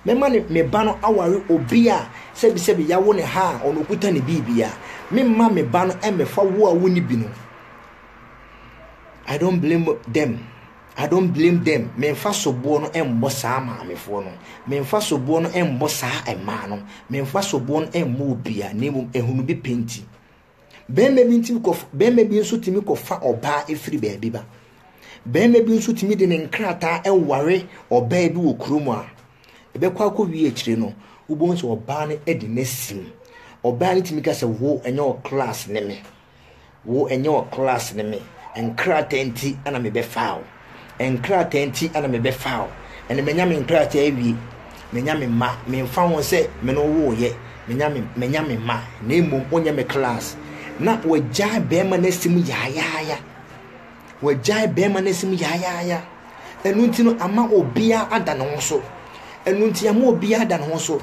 Mɛma ne, me ba no aware obi a sɛbisɛbi yɛawo no ha a ɔno ɔkuta ne biribiara. Memma me ba no mmɛfa wo a wonni bi no. I don't blame them. I don't blame them. Memfa soboɔ no mmɔ saa maamefoɔ no. Memfa soboɔ no mmɔ saa mmaa no. Memfa soboɔ no mmɔ obia na mmom ehunu bi pɛ nti. Bɛrima bi ntumi kɔ bɛrima bi nso tumi kɔfa ɔbaa efiri baabi ba. Bɛrima bi nso tumi de ne nkrataa ɛware ɔbaa bi wɔ kurom a ɛbɛkɔ akɔ wie akyire no wobɛhu sɛ ɔbaa no de n'asim. Ɔbaa no tumi ka sɛ wo ɛnyɛ wɔ class ne me. Wo ɛnyɛ wɔ class ne me nkrataa nti ɛna me bɛ faa wo nkrataa nti ɛna me bɛ faa wo ɛna me nya me nkrataa awie me nya me ma me nfa ho sɛ me no wo yɛ me nya me me nya me ma na emu o nyɛ me class na wɔ gya bɛɛma na sim yaayaaya wɔ gya bɛɛma na sim yaayaaya ɛnu nti no ama obiara ada ne ho so ɛnu nti ama obiara ada ne ho so.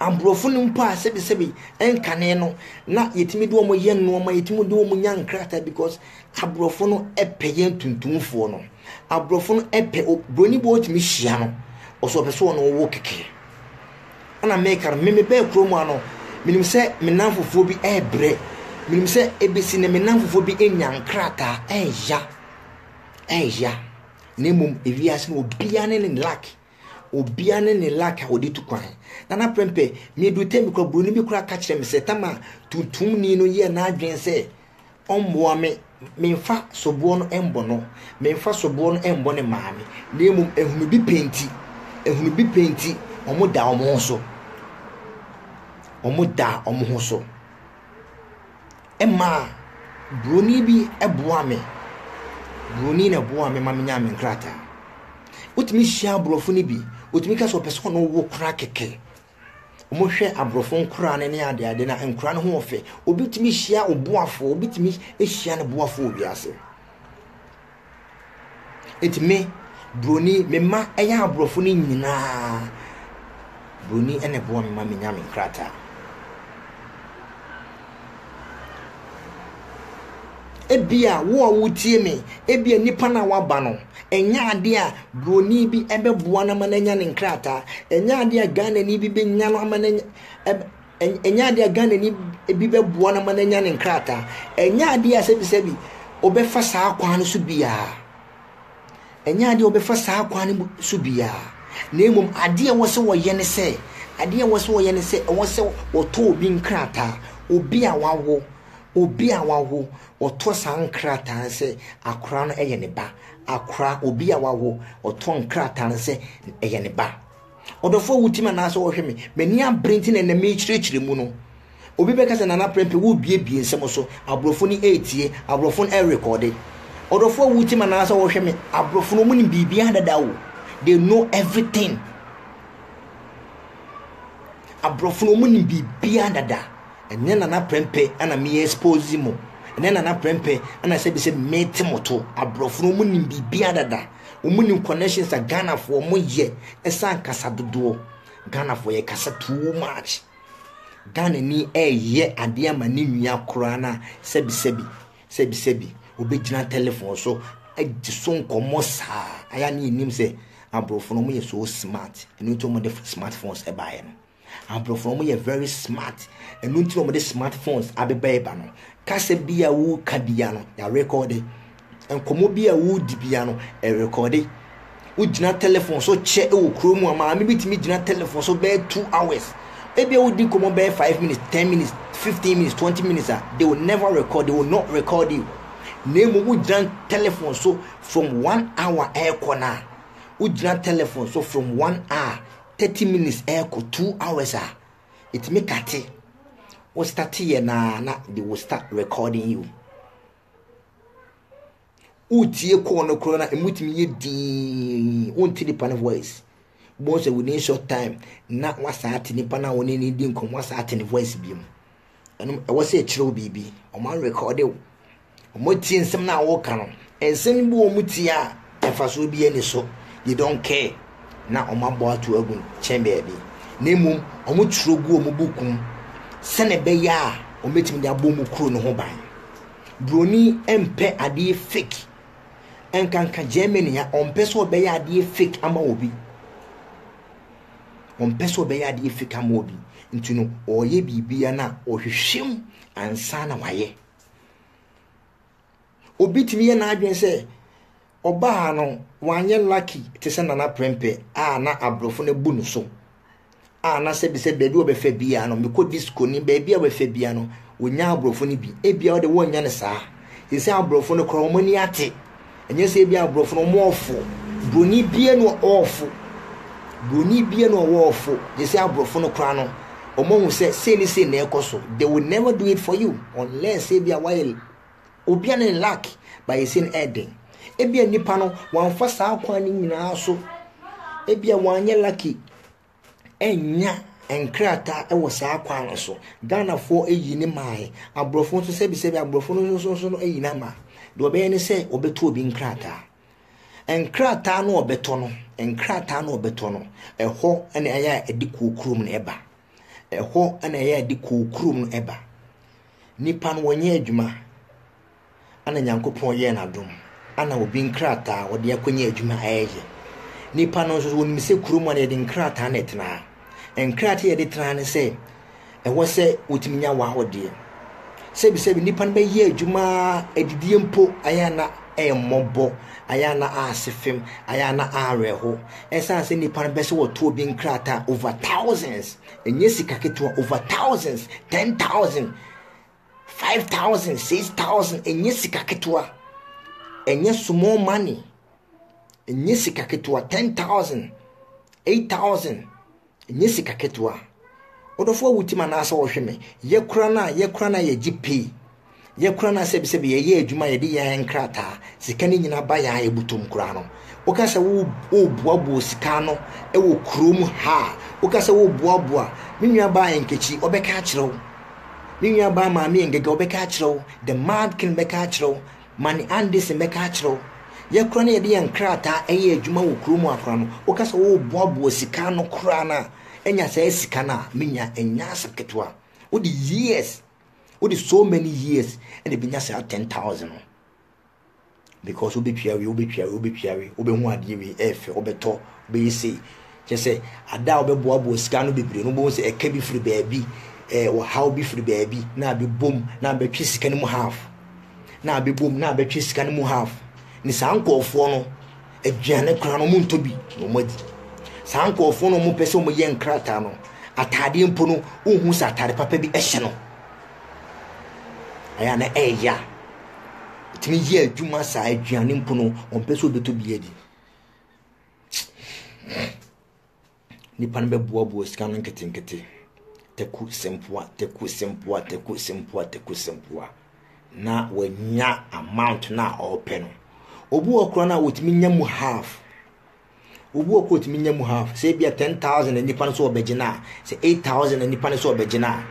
Aborɔfo no mpo a sɛbesɛbe nkane no, na yɛtumi de wɔn yɛ nneɛma, yɛtumi de wɔn nya nkrataa because aborɔfo no pɛ yɛn tuntumfoɔ no. Aborɔfo no pɛ buroni bi wɔtumi hyia no, ɔsɛ ɔpɛ sɛ ɔne wo kɛkɛ. Ɛna meka no, me mebɛɛ kurom ano, menim sɛ me nanfofoɔ bi ɛrebrɛ, menim sɛ ebesi na me nanfofoɔ bi anya nkrataa ɛreya, ɛreya. Na mmom ewiase no obiara ne ne luck. Obia ne ne luck a ɔde tu kwan. Nana Prempeh, medu Temi kora, buroni bi kora ka kyerɛ me sɛ Tama tuntumni no yɛɛ n'adwene sɛ ɔmmoa me, memfa soboɔ no mmɔ no, memfa soboɔ no mmɔ ne maame, na mmom ehunu bi pɛ nti, ehunu bi pɛ nti, wɔn da wɔn ho so. Wɔn da wɔn ho so. Ɛmaa buroni bi boaa me, buroni na ɛboaa me ma menyaa me nkrataa. Wotumi hyia aborɔfo no bi, wotumi ka sɛ ɔpɛ sɛ ɔno wo kora kɛkɛ. Wɔhwɛ aborɔfo nkoraa no ne adeade na nkoraa no ho wɔ fɛ. Obi tumi hyia ɔboafo, obi tumi hyia ne boafo wɔ wiase. Enti me, Buroni, me mma yɛ aborɔfo no nyinaa Buroni na ɛboa me ma menya me nkrataa. Ebia wo a wotie me, ebia nipa na waba no, ɛnyɛ ade a Buroni bi ɛbɛboa no ama n'anya ne nkrataa, ɛnyɛ ade a Ghanani bi bɛnya no ama n'anya Ɛnyɛ adeɛ a Ghanani bi bɛboa no ama no anya ne nkrataa. Ɛnyɛ adeɛ a sɛbisɛbi wobɛfa saa kwan no so biara. Ɛnyɛ adeɛ a wobɛfa saa kwan no mu so biara. Na mmom adeɛ a ɛwɔ sɛ wɔyɛ ne sɛ, adeɛ a ɛwɔ sɛ wɔyɛ ne sɛ, ɛwɔ sɛ wɔtɔ obi nkrataa, obi a wawo, obi a wawo, wɔtɔ saa nkrataa no sɛ akora no yɛ ne ba. Akora, obi a wawo, wɔtɔ nkrataa no sɛ ɛyɛ ne ba. Ɔdɔfoɔ wo tim anaasɛ wohwɛ me? M'ani abere nti na ɛnɛ merekyerɛkyerɛ mu no. Obi bɛka sɛ Nana Prempeh worebuebue nsɛm so, aborɔfo no retie, aborɔfo no rekɔɔde. Ɔdɔfoɔ wo tim anaasɛ wohwɛ me? Aborɔfo no wɔnim biribiara dada o. They know everything. Aborɔfo no wɔnim biribiara dada. Ɛnyɛ Nana Prempeh ana me expose mo. Ɛnyɛ Nana Prempeh ana sɛbisɛ mete mo to. Aborɔfo no wɔnim biribiara dada. Ɔmo nim connections a Ghanafoɔ ɔmo yɛ ɛsan kasa dodoɔ. Ghanafoɔ yɛ kasa too much. Ghanani ɛɛyɛ adeɛ ama ne nua koraa na sɛbi sɛbi sɛbi sɛbi ɔbɛgyina telephone so agye so nkɔmmɔ saa. Ayɛ a ne yɛnim sɛ aborɔfo no ɔmo yɛ so smart. Ɛno nti ɔmo de smart phones ɛbaeɛ no. Abrɔfo no wɔyɛ very smart ɛno nti na wɔde smart phones abeba ɛba no kasa bi a woka bia no yɛarekɔde nkɔmmɔ bi a wodi bia no ɛrekɔde wogyina telephone so kyɛ wɔ kuro mu a maame bi tumi gyina telephone so bɛyɛ two hours ebi a wodi nkɔmmɔ bɛyɛ five minutes ten minutes fifteen minutes twenty minutes a they will never record they will not record you na emu wogyina telephone so from one hour ɛrekɔ na wogyina telephone so from one hour thirty minutes ɛkɔ two hours a ɛtumi kate wo starte yɛ naa na they will start recording you wotie kɔɔ no korɔ no ɛmutumi yɛ dii wonte nipa no voice wobɛhu sɛ within short time na wasaa te nipa no a wo ne no di nkɔmmɔ asaa te ne voice bio mu Ɛno ɛwɔ sɛ ɛkyerɛw biribi. Wɔn arekɔde wo. Wɔn atie nsɛm no a wɔreka no. Nsɛm bi wɔn tie a mfasoɔ bi ani so. They don't care. Na wɔn abɔ ato agu kyɛn baabi. Na mmom wɔn twerɛ gu wɔn buku mu sɛnea ɛbɛyɛ a wɔbɛtumi de abɔ wɔn kuro no ho ban. Buroni mpɛ adeɛ fake. Nkanka Germany a ɔmpɛ sɛ ɔbɛyɛ adeɛ fake ama obi. Ɔmpɛ sɛ ɔbɛyɛ adeɛ afiri ka ma obi. Nti no, ɔreyɛ biribiara no a, ɔhwehwɛ mu ansa na wayɛ. Obi tumi yɛ n'adwene sɛ ɔbaa no wanyɛ lucky te sɛ Nana Prempeh a na aborɔfo no abu no so a na sɛbisɛ baabi a ɔbɛfa biara no mekɔ disco ne baabi a ɔbɛfa biara no wɔnya aborɔfo no bi ebia ɔde wɔnnya no saa sɛ sɛ aborɔfo no koraa wɔn ani ate Ɛnyɛ sɛ ebi aborɔfo no wɔn ɔfo. Buroni bie no ɔwɔ ɔfo. Buroni bie no ɔwɔ ɔfo. Gye sɛ aborɔfo no koraa no wɔn ahu sɛ sei ne sei na ɛkɔ so. They will never do it for you unless ebi a wayɛ obi a ne ne lack ba yɛ sei no ɛden. Ebi a nipa no wɔamfa saa kwan no nyinaa so. Ebi a wɔanyɛ lucky ɛnnya nkrataa wɔ saa kwan no so. Ghanafoɔ ayi ne mae, aborɔfo nso sɛbisɛbi aborɔfo no nso nso no ayi no ama. Deɛ ɔbɛyɛ ne sɛ ɔbɛtɔ obi nkrataa. Nkrataa no ɔbɛtɔ no, nkrataa no ɔbɛtɔ no, ɛhɔ na ɛyɛ a ɛde kuo kurom no ɛba. Ɛhɔ na ɛyɛ a ɛde kuo kurom no ɛba. Nnipa no wɔnyɛ adwuma. ana Nyankopɔn yɛɛ no adom ana obi nkrataa a ɔde akɔnya adwuma a ɛyɛ. Nnipa no nso wɔnim sɛ kurom a na yɛde nkrataa na ɛtena. Nkrataa yɛde tena ne sɛ ɛwɔ sɛ wotumi nya w'ahodeɛ. Sɛbisɛbi nnipa no bɛyɛ adwuma adidie mpo ayɛ ana ɛyɛ mmɔbɔ, ayɛ ana ase fem, ayɛ ana awerɛho. Ɛsiane sɛ nnipa no bɛ sɛ wɔto obi nkrataa over thousands, ɛnyɛ sika ketewa over thousands, ten thousand. Five thousand, six thousand, ɛnyɛ sika ketewa. Ɛnyɛ small money. Ɛnyɛ sika ketewa. Ten thousand, eight thousand, ɛnyɛ sika ketewa. Ɔdɔfoɔ wo tim anaasɛ wɔhwɛ me. Yɛkura no a, yɛkura no a yɛgye pay. Yɛkura no a sɛbisɛbi yɛyɛ adwuma yɛde yɛn nkrataa. Sika no nyinaa ba yɛn a ɛbutom koraa no. Woka sɛ woboaboa sika no wɔ kurom ha a, woka sɛ woboaboa. Me nuabaa Nkechi, ɔbɛka akyerɛ wo. Me nuabaa maame Ngega ɔbɛka akyerɛ wo, The Mad King bɛka akyerɛ wo, Manny Anderson bɛka akyerɛ wo. Yɛ koraa na yɛde yɛn nkrataa ɛyɛ adwuma wɔ kuro mu a koraa no, woka sɛ woreboaboa sika ano koraa no a, ɛnya saa sika no a, me nua, ɛnyɛ asɛm ketewa. Wode years, wode so many years ɛna ɛbɛnya saa ten thousand no. because wobɛtua wei wobɛtua wei wobɛtua wei wobɛhu adeɛ wei ɛyɛ fɛ wobɛtɔ wobɛyɛ sei kyɛ sɛ ada a wobɛboaboa sika no bebree no wobɛhu sɛ ɛka bi firi baabi ɛɛ ɔhaw bi firi baabi na abɛbom na abɛtwe sika no mu half na abɛbom na abɛtwe sika no mu half ne saa nkɔɔfoɔ no aduane koraa no montɔ bi na wɔn adi saa nkɔɔfoɔ no wɔn pɛ sɛ wɔn yɛ nkrataa no ataadeɛ mpo no wohu sɛ ataade papa bi ɛhyɛ no ɛyɛ na ɛyɛ a Ɛtumi yɛ adwuma saa aduane mpo no ɔmpɛ sɛ ɔbɛtɔ bi adi nipa no bɛboaboa sika no nketenkete taku sempoa taku sempoa taku sempoa taku sempoa na wanya amount no a ɔrepɛ no obi wɔ korɔ no a wɔtumi nya mu half Obi wɔ kɔ otumi nya mu half. Sɛ ebia ten thousand na nipa no so ɔbɛgyina a, sɛ eight thousand na nipa no so ɔbɛgyina a,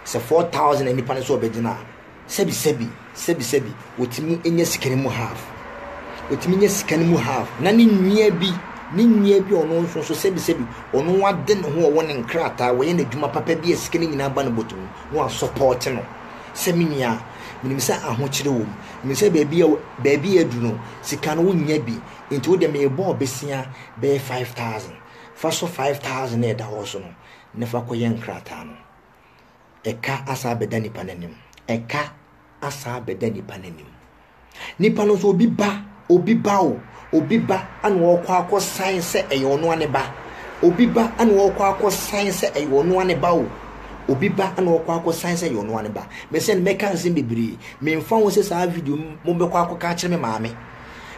sɛ four thousand na nipa no so ɔbɛgyina a, sɛbi sɛbi sɛbi sɛbi otumi nya sika no mu half. Otumi nya sika no mu half. Na ne nua bi ne nua bi ɔno nso nso sɛbi sɛbi ɔno wade ne ho ɔwɔ ne nkrataa wɔyɛ n'adwuma papa bi a sika no nyinaa ba no bɔtɔ mu na wasɔpɔte no. sɛ me nua, menim sɛ ahokyere wom. Menim sɛ baabi a baabi a adu no, sika no wonnya bi. Enti wo deɛ merebɔ wo bosea bɛyɛ five thousand. Fa so five thousand a ɛda hɔ so no, na fa kɔyɛ nkrataa no. Ɛka asan abɛda nipa no anim. Ɛka asan abɛda nipa no anim. Nipa no nso obi ba, obi ba o, obi ba ana ɔrekɔ akɔsan sɛ ɛyɛ ɔno ara ne ba. Obi ba ana ɔrekɔ akɔsan sɛ ɛyɛ ɔno ara ne ba o. Obi ba ana ɔrekɔ akɔsan sɛ ɛyɛ ɔno ara ne ba. Mesɛ no mɛka nsɛm bebree. Memfa ho sɛ saa video yi mobɛkɔ akɔka akyerɛ me maame.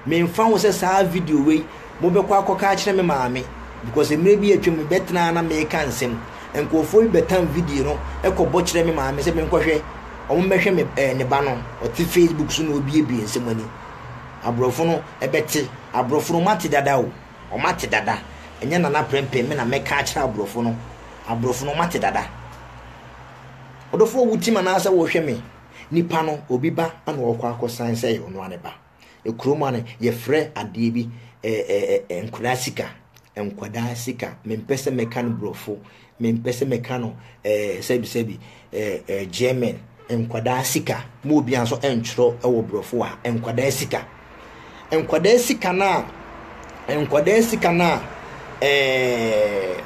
Memfa ho sɛ saa video wei mobɛkɔ akɔka akyerɛ me maame because mmerɛ bi atwam no bɛtenaa na meka nsɛm nkurɔfoɔ bi bɛtam video no kɔbɔ kyerɛ me maame sɛ menkɔhwɛ wɔn mmɛhwɛ me ɛɛ ne ba no ɔte facebook so na obiebie nsɛm ani aborɔfo no ɛbɛte aborɔfo no wɔate dada o wɔate dada ɛnyɛ nana prɛmpɛ me na mɛka akyerɛ aborɔfo no aborɔfo no wɔate dada ɔdɔfoɔ wotim anaasɛ wɔhwɛ me nipa no obi ba na ɔkɔ akɔsan sɛ ɔnoa ne ba Ekuro mu a no yɛfrɛ adeɛ bi ɛɛ nkwadaa sika nkwadaa sika mempɛ sɛ mɛka no borɔfo mempɛ sɛ mɛka no ɛɛ sɛbisɛbi ɛɛ ɛɛ german nkwadaa sika mu obi nso ɛntwerɛ ɛwɔ borɔfo a nkwadaa sika nkwadaa sika no a nkwadaa sika no a ɛɛ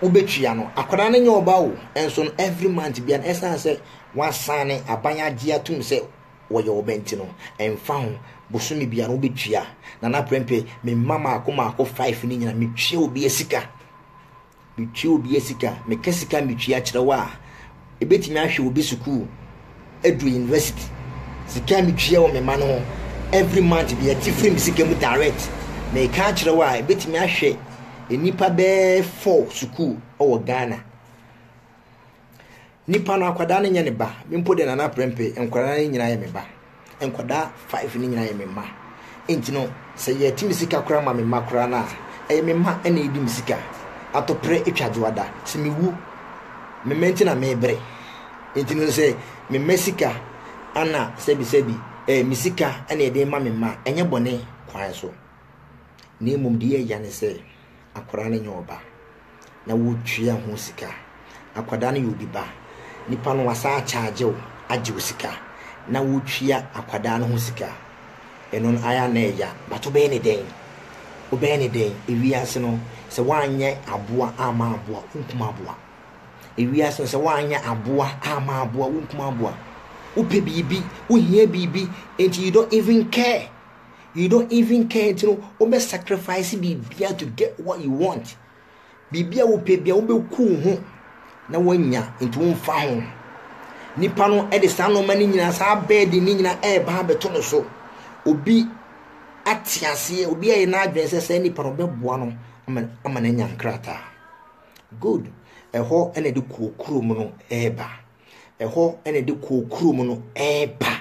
wobɛtua no akwadaa no nyɛ ɔba o ɛnso no every month bia no ɛsan sɛ wasan ne aban agye atum sɛ wɔyɛ ɔbɛ nti no, ɛmfa ho, bosome biara wobɛtua. Nana Prempeh, me mma maako maako five no nyina metua obia sika. Metua obia sika. Meka sika metua kyerɛ wo a, ɛbɛtumi ahwɛ obi sukuu aduru university. Sika metua wɔ me mma no ho every month deɛ ɛte firi me sika mu direct. Meka akyerɛ wo a, ɛbɛtumi ahwɛ nnipa bɛɛ four sukuu wɔ Ghana. Nipa no akwadaa no nyɛ ne ba. Me mpo de nana prɛmpe nkwadaa no nyinaa yɛ me ba. Nkwadaa five no nyinaa yɛ me mma. Nti no sɛ yɛte me sika koraa ma me mma koraa no a ɛyɛ me mma ɛna ɛdi me sika. Atɔprɛ atwa dwoada. Sɛ mewu me mma nti na mebrɛ. Nti no sɛ me mma sika ana sɛbisɛbi ɛɛ me sika ɛna ɛde ma me mma ɛnyɛ bɔne kwan so. Na mmom deɛ ɛyɛ ne sɛ. akwadaa no nyɛ ɔba na wotua ho sika. Akwadaa no yɛ obi ba. Nipa no wasan akyagye wo agye wo sika na wotua akwadaa no ho sika. Ɛno no ayɛ a na ɛya but wobɛyɛ ne dɛn? Wobɛyɛ ne dɛn? Ewiase no sɛ woanyɛ aboa amma aboa wonkum aboa. Ewiase no sɛ woanyɛ aboa amma aboa wonkum aboa. Wopɛ biribi, wohia biribi nti you don't even care. you don't even care nti no wobɛ sacrifice biribia to get what you want biribia wopɛ bia wobɛku wo ho na woanya nti womfa ho nipa no de saa nnoɔma no nyinaa saa bɛɛde no nyinaa ɛreba abɛto no so obi ate aseɛ obi ayɛ n'adwene sɛ saa nipa no ɔbɛboa no ama no anya nkrataa good ɛhɔ ɛna de kɔɔ kurom no ɛreba ɛhɔ ɛna de kɔɔ kurom no ɛreba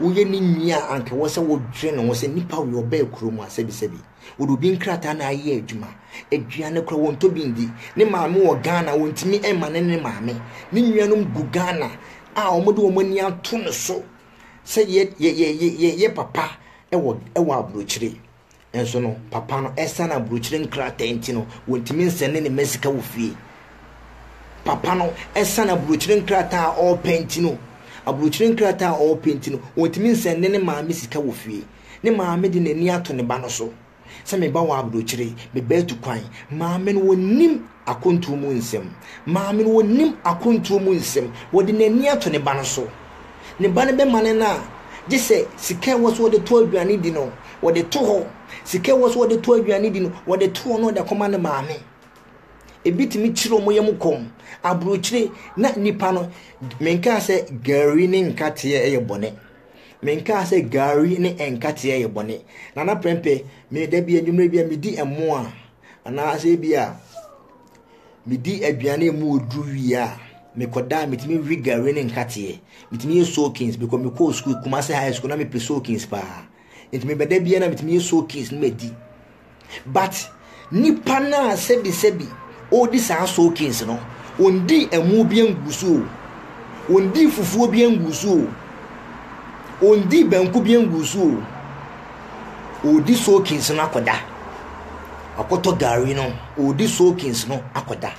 Woyɛ ne nua a, anka ɛwɔ sɛ wodwen ho sɛ nipa wei ɔbaa kurom a, sɛbisɛbi, wɔde obi nkrataa na ayɛ adwuma. Aduane koraa, wɔntɔ bi ndi. Ne maame wɔ Ghana, wɔntumi mma no ne ne maame. Ne nuanom gu Ghana a wɔde wɔn ani ato no so sɛ yɛ, yɛ, yɛ, yɛ, yɛyɛ papa wɔ, wɔ aburokyire. Nanso no, papa no, esiane aburokyire nkrataa nti no, wɔntumi nsɛnee ne mma sika wɔ fie. Papa no, esiane aburokyire nkrataa a ɔrepɛ nti no, aburokyire nkrataa a ɔrepɛ nti no, wɔntumi nsɛnee ne maame sika wɔ fie. Ne maame de n'ani ato ne ba no so sɛ, Me ba wɔ aburokyire, me ba atu kwan. Maame no, ɔnnim Akwantuo mu nsɛm. Maame no, ɔnim akwantuo mu nsɛm. Ɔde n'ani ato ne ba no so. Ne ba no bɛmane no a, gye sɛ sika a ɛwɔ sɛ ɔde tɔ aduane di no, ɔde to hɔ. Sika a ɛwɔ sɛ ɔde tɔ aduane di no, ɔde to hɔ na ɔde akɔma ne maame. Ebi tumi kyere wɔn yam kɔm. Aburokyire na nnipa no, menkaa sɛ gari ne nkateɛ yɛ bɔne. Menkaa sɛ gari ne nkateɛ yɛ bɔne. Nana Prɛmpɛ, me da bi anwummerɛ bi a medi ɛmo a, anaasɛ ebi a medi aduane a emu wɔ duru wie a mekɔda a metumi we gari ne nkateɛ metumi yɛ soakings because mekɔɔ sukuu kumase high school na mepɛ soakings paa nti mebɛda biara na metumi yɛ soakings na madi but nipa no a sɛbisɛbi ɔredi saa soakings no ɔndi ɛmo bi angu so o ɔndi fufuo bi angu so o ɔndi banku bi angu so o Ɔredi soakings no akɔda. Wakɔtɔ gari no, ɔredi soakings no akɔda.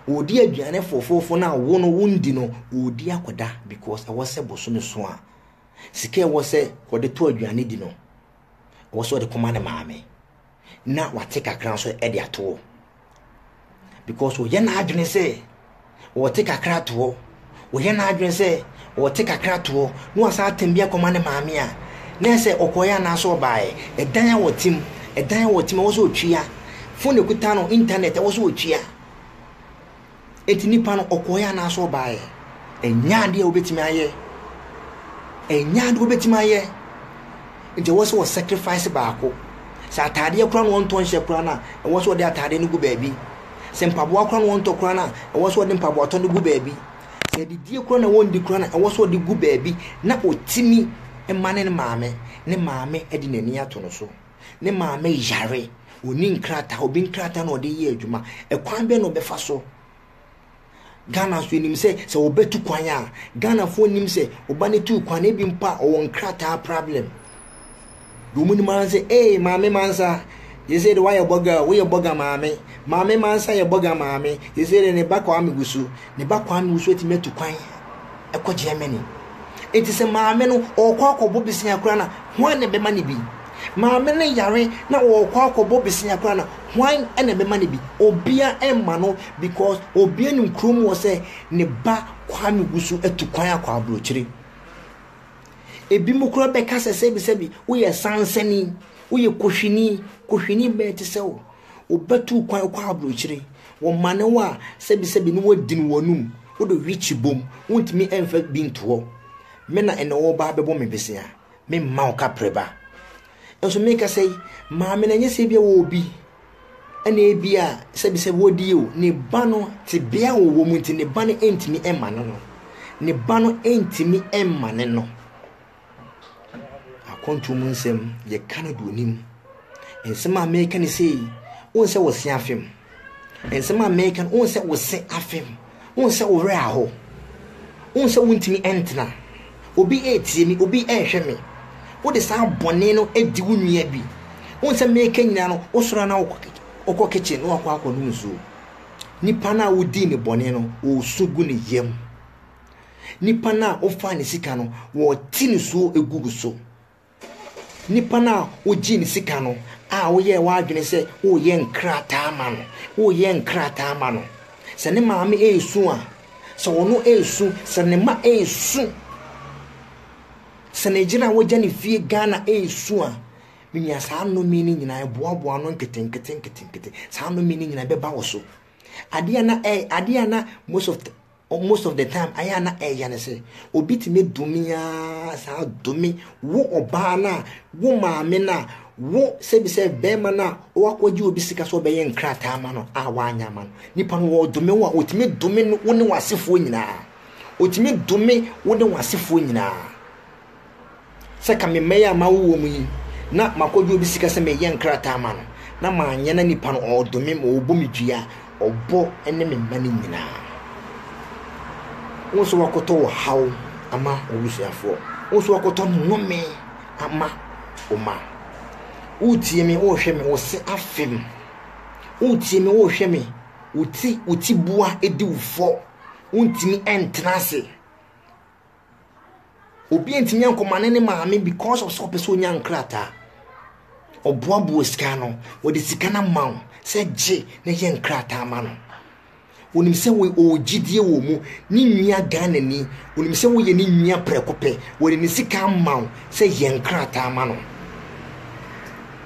Ɔredi aduane fofoofo no a wo no wondi no, ɔredi akɔda because ɛwɔ sɛ bosome so a sika ɛwɔ sɛ wɔde tɔ aduane di no, ɛwɔ sɛ wɔde kɔma ne maame. na wate kakra nso de ato hɔ because ɔyɛ n'adwene sɛ ɔte kakra to hɔ ɔyɛ n'adwene sɛ ɔte kakra to hɔ na wasan atɛm bi akɔma ne maame a na ɛsɛ ɔkɔɛ anaasɛ ɔbaeɛ ɛdan a wɔte mu ɛdan a wɔte mu ɛwɔ sɛ ɔtua fone kuta no internet ɛwɔ sɛ ɔtua Enti nipa no ɔkɔɔeɛ anaasɛ ɔbaeɛ? Ɛnyɛ adeɛ a wobɛtumi ayɛ. Ɛnyɛ adeɛ wobɛtumi ayɛ. Nti ɛwɔ sɛ wɔ sacrifice baako. Sɛ ataadeɛ koraa na wɔntɔ nhyɛ koraa no a, ɛwɔ sɛ wɔde ataadeɛ no gu baabi. Sɛ mpaboa koraa na wɔntɔ koraa no a, ɛwɔ sɛ wɔde mpaboatɔ no gu baabi. Sɛ adidie koraa na wɔndi koraa no a, ɛwɔ sɛ wɔde gu baabi na ɔtumi ma ne maame, ne maame de n'ani ato no so. ne maame yare, ɔni nkrataa, obi nkrataa na ɔde yɛ adwuma. Ɛkwan bɛn na ɔbɛfa so? Ghana nso nim sɛ sɛ wɔbɛtu kwan a, Ghanafoɔ nim sɛ ɔba no tu kwan ebi mpo a ɔwɔ nkrataa problem. Deɛ wɔn nim ara sɛ, ee maame mansa, yɛsɛ de wayɛ bɔga, woyɛ bɔga maame, maame mansa yɛ bɔga maame, yɛsɛ de ne ba kwame wusu, ne ba kwame wusu atumi atu kwan. kɔ Germany. Enti sɛ maame no ɔrekɔ akɔbɔ bosea koraa no a, hwan na ɛbɛma no bi? Maame no yare na ɔrekɔ akɔbɔ bosea koraa no a, hwan na ɛbɛma no bi? Obiara remma no because obiara nim kurom hɔ sɛ ne ba Kwame gu so atu kwan akɔ aburokyire. Ebinom koraa bɛka sɛ sɛbisɛbi woyɛ sansani, woyɛ kohwini, kohwini bɛn te sɛ wo? Wobɛtu kwan kɔ aburokyire. Wɔmane wo a, sɛbisɛbi ne woadini w'anom. Wode wikyi bom, wontumi mfa bi nto hɔ. Me na ɛnnɛ woreba abɛbɔ me bosea. Memma wo kaprɛ ba. Nso mekasa yi, maame no, ɛnyɛ sɛ ebia ɔwɔ obi na ebia sɛbisɛbi ɔdi yie o. Ne ba no, tebea a ɔwɔ mu nti, ne ba no ntumi mma no no. Ne ba no ntumi mma no no. Akwantuo mu nsɛm yɛka no do onim. Nsɛm a meka ne sei, wohu sɛ wose afem. Nsɛm a meka no, wohu sɛ wose afem. Wohu sɛ wo werɛ aho. Wohu sɛ wontumi ntena. Obi retie me, obi rehwɛ me. Wode saa bɔne no di wo nua bi. Wohu sɛ meka nyinaa no, wosɔre a na wokɔ kitchen na wakɔ akɔnom nsuo. Nipa no a wodii ne bɔne no, ɔresu gu ne yam. Nipa no a wofaa ne sika no, wɔte nisuo gu wo so. Nipa no a wogyee ne sika no a woyɛɛ w'adwene sɛ woreyɛ nkrataa ama no, woreyɛ nkrataa ama no. Sɛ ne maame resu a, sɛ ɔno resu, sɛ ne mma resu, sɛ ne yere a wagya ne fie Ghana resu a, me nua saa nnome no nyinaa ɛboaboa no nketenkete nketenkete. Saa nnome no nyinaa ɛbɛba wo so. Adeɛ a na ɛyɛ adeɛ a na most of the most of the time ayɛ a na ɛyɛ ne sɛ obi tumi dome aa saa dome wo ɔbaa no a wo maame no a wo sɛbisɛ bɛrima no a wakɔgye obi sika sɛ ɔbɛyɛ nkrataa ama no a wanyɛ ama no nipa no wɔdome wo a ɔtumi dome wo ne w'asefoɔ nyinaa ɔtumi dome wo ne w'asefoɔ nyinaa sɛ ka mema yi a mawo wɔn yi na makɔgye obi sika sɛ meyɛ nkrataa ma no na manyɛ na nipa no ɔredome ma ɔbɔ me dua ɔbɔ ne me mma no nyinaa wo nso wakɔtɔ wɔ haw ama obusuafoɔ wo nso wakɔtɔ nnome ama wo ma wotie me wohwɛ me wo se afem wotie me wohwɛ me wo ti wo ti bua edi wo fɔ wontumi ɛntena ase Obi ntumi nkɔma ne ne maame because of sɛ ɔpɛ sɛ ɔnya nkrataa. Ɔboaboa sika no, wɔde sika no ama wo sɛ gye na yɛ nkrataa ma no. Onim sɛ ɔwɔ gyidie wɔ mu, ne nua Ghanani, onim sɛ woyɛ ne nua prɛko pɛ, wɔde ne sika ama wo sɛ yɛ nkrataa ma no.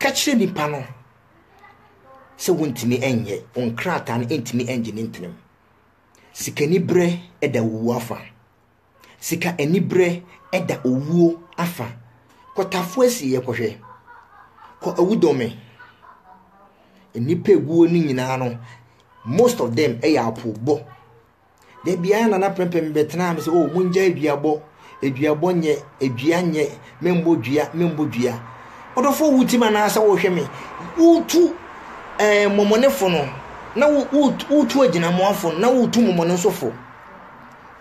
Ka kyerɛ nnipa no sɛ wontumi nyɛ, wo nkrataa no ntumi ngye ne ntenam. Sikaniberɛ da owuo afa. Sika aniberɛ da owuo afa. Kɔ Tafo asieɛ kɔhwɛ. Kɔ Awudome. Nnipa eguo no nyinaa no, most of them yɛ apoobɔ. Da biara na na prɛmpɛm bɛtenaa me sɛ, oh, mongya aduabɔ. Aduabɔ nyɛ, adua nyɛ, memmɔ dua, memmɔ dua. Ɔdɔfo wo tim anaasɛ wohwɛ me, wotu ɛɛ eh, mɔmɔnefo no, na wotu agyinamoafo no, na wotu mɔmɔnesofo.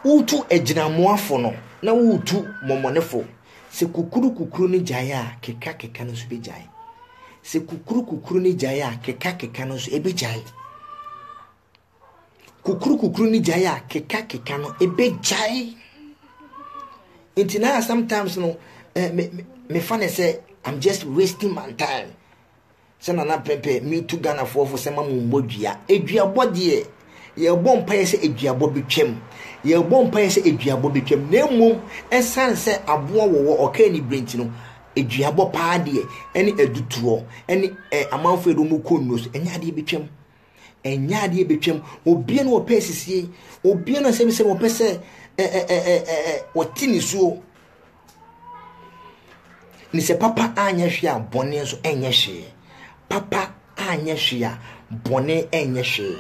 Wotu agyinamoafo no, na wotu mɔmɔnefo. Sɛ kukuru kukuru no gyae a, keka keka no nso bɛgyae. Sɛ kukuru kukuru no gyae a, keka keka no nso ɛbɛgyae. kukurukukuru ne gyae a kekakeka no ebegyae nti na sometimes no eh, me, me, me fa ne sɛ i'm just wasting my time sɛ nana pɛpɛ metu ghanafoɔ fo sɛ ma mo mmɔ dua aduabɔ deɛ yɛbɔ mpaeɛ sɛ aduabɔ bɛtwam yɛbɔ mpaeɛ sɛ aduabɔ bɛtwam na mmom ɛsiane sɛ aboɔ wɔwɔ ɔkaa ne berɛ nti no aduabɔ paa deɛ ɛne adutoɔ ɛne amanfoɔ ɛde wɔn kɔ nnuo so ɛnyɛ adeɛ bɛtwam ɛnyɛ adeɛ ɛbɛtwam obia na wɔpɛ asisie obia na sɛbisɛ wɔpɛ sɛ wɔte ne suo ne sɛ papa anyɛ hwee a bɔne nso ɛnyɛ hwee papa anyɛ hwee a bɔne ɛnyɛ hwee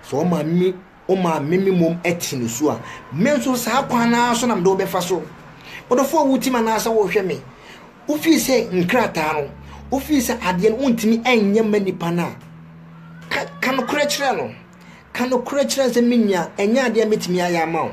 Sɛ wo maame wo maame me mmom te ne su a, me nso saa kwan no ara so na mede wo bɛfa so. Ɔdɔfo a wotim anaasɛ wohwɛ me, wofii sɛ nkrataa no, wofii sɛ adeɛ no wontumi nyɛ ma nipa no a, ka, ka nokorɛ kyerɛ no. Ka nokorɛ kyerɛ no sɛ me nua, ɛnyɛ adeɛ a mɛtumi ayɛ ama wo.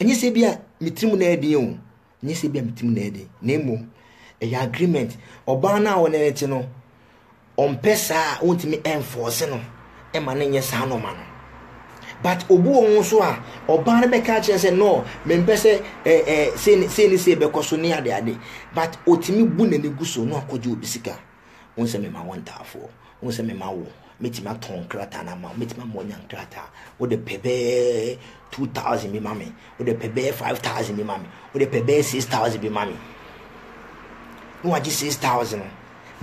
Ɛnyɛ sɛ bi a me tirim na ɛyɛ den o, ɛnyɛ sɛ bi a me tirim na ɛyɛ den, na mmom ɛyɛ agreement. Ɔbaa no a wɔne no te no, ɔmpɛ saa a ɔntumi ɛnfɔɔse no ɛma no nyɛ saa nɔɔma no. But obi wɔ ho so a ɔbaa no bɛka akyerɛ sɛ no, mempɛ sɛ ɛɛ ɛɛ sei ne sei bɛkɔ so ne ade ade, but ɔtumi bu n'ani gu so na wakɔgye obi sika. Wohu sɛ mema wo ntaafoɔ. Wohu sɛ mema wo, mɛtumi atɔn nkrataa no ama wo. Mɛtumi ama woanya nkrataa. Wode pɛ bɛyɛ 2000 bi ma me. Wode pɛ bɛyɛ 5000 bi ma me. Wode pɛ bɛyɛ 6000 bi ma me. Na wagye 6000 no.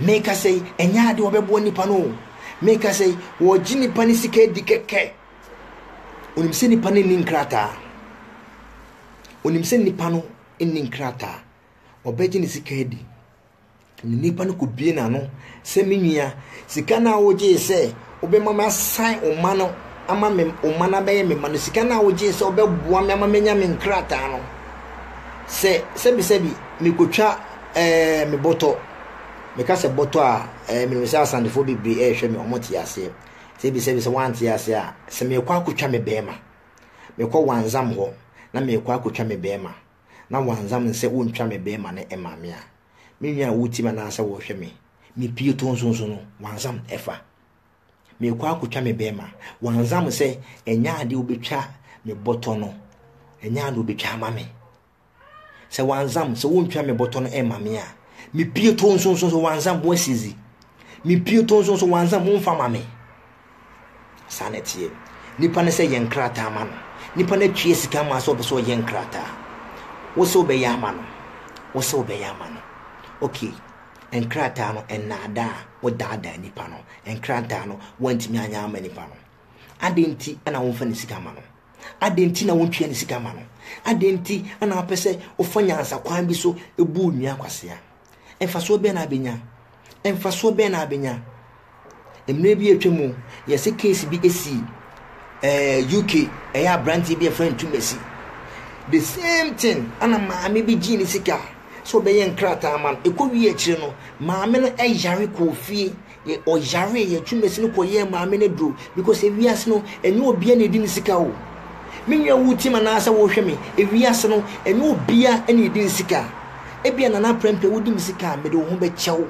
Meka sɛ ɛnyɛ ade wɔbɛboa nipa no o. Meka sɛ wɔgye nipa no sika adi kɛkɛ. Onim sɛ nipa no nni nkrataa. Onim sɛ nipa no nni nkrataa. Ɔbɛgye ne sika adi. Nipa no kɔ bie n'ano sɛ me nua, sika no a wogyee sɛ wobɛma me asan wo mma no ama me wo mma no abɛyɛ me mma no, sika no a wogyee sɛ wobɛboa me ama menya me nkrataa no, sɛ sɛbisɛbi mekɔtwa ɛɛ me bɔtɔ, meka sɛ bɔtɔ a ɛɛ menim sɛ asantefoɔ bebree ɛrehwɛ me wɔn te aseɛ, sɛbisɛbi sɛ wɔante aseɛ a, sɛ mekɔ akɔtwa me bɛrima, mekɔ wanzam hɔ na mekɔ akɔtwa me bɛrima, na wanzam nsɛ wontwa me bɛrima no ɛma me a, Me nua a wotie me anaasɛ wɔhwɛ me. Me pie to nso nso no, wansam ɛfa. Mekɔ akotwa me bɛrima. Wansam sɛ ɛnyɛ adeɛ wobɛtwa me bɔtɔ no. Ɛnyɛ adeɛ wobɛtwa ama me. Sɛ wansam sɛ wontwa me bɔtɔ no ɛma me a, me pie to nso nso nso wansam wɔasizi. Me pie to nso nso wansam womfa ma me. Saa na ɛteɛ. Nipa no sɛ yɛ nkrataa ma no. Nipa no atua sika ama wo sɛ ɔpɛ sɛ ɔyɛ nkrataa. Wo sɛ wobɛyɛ ama no? Wo sɛ wobɛyɛ ama no? Okay, nkrataa no nnaadaa, wodaadaa nipa no. Nkrataa no woantumi anyɛ ama nipa no. Adɛn nti na womfa ne sika ma no? Adɛn nti na wontua ne sika ma no? Adɛn nti na wopɛ sɛ wofa nyansakwan bi so bu onua kwasea? Mfasoɔ bɛn na abɛnya? Mfasoɔ bɛn na abɛnya? Mmerɛ bi atwa mu, yɛse case bi ɛsi eh, UK, ɛyɛ aberanteɛ bi ɛfrɛ Ntumasi. The same thing, ana maame bi gyee ne sika sɛ ɔbɛyɛ nkrataa ma no. Ɛkɔ wie akyire no, maame no ɛyare kɔɔ fie, Yɛ ɔyaree yɛ twumasi no kɔ yɛɛ maame no duro because ewiase no ɛnyɛ obia na edi ne sika o me nua wo team anaa sɛ wo hwɛ me ewiase no ɛnyɛ obia na edi ne sika ebia nana prɛmpɛ wo di me sika a mede wo ho bɛ kyɛw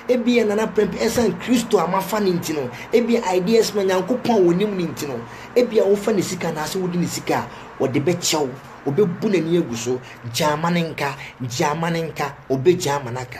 ebia nana prɛmpɛ ɛsan kristo a mafa ne nti no ebia ideas ma nyankopɔn a wo nim ne nti no ebia wo fa ne sika anaa sɛ wo di ne sika a ɔde bɛ kyɛw ɔbɛ bu n'ani agu so gyaama ne nka gyaama ne nka ɔbɛ gyaama n'aka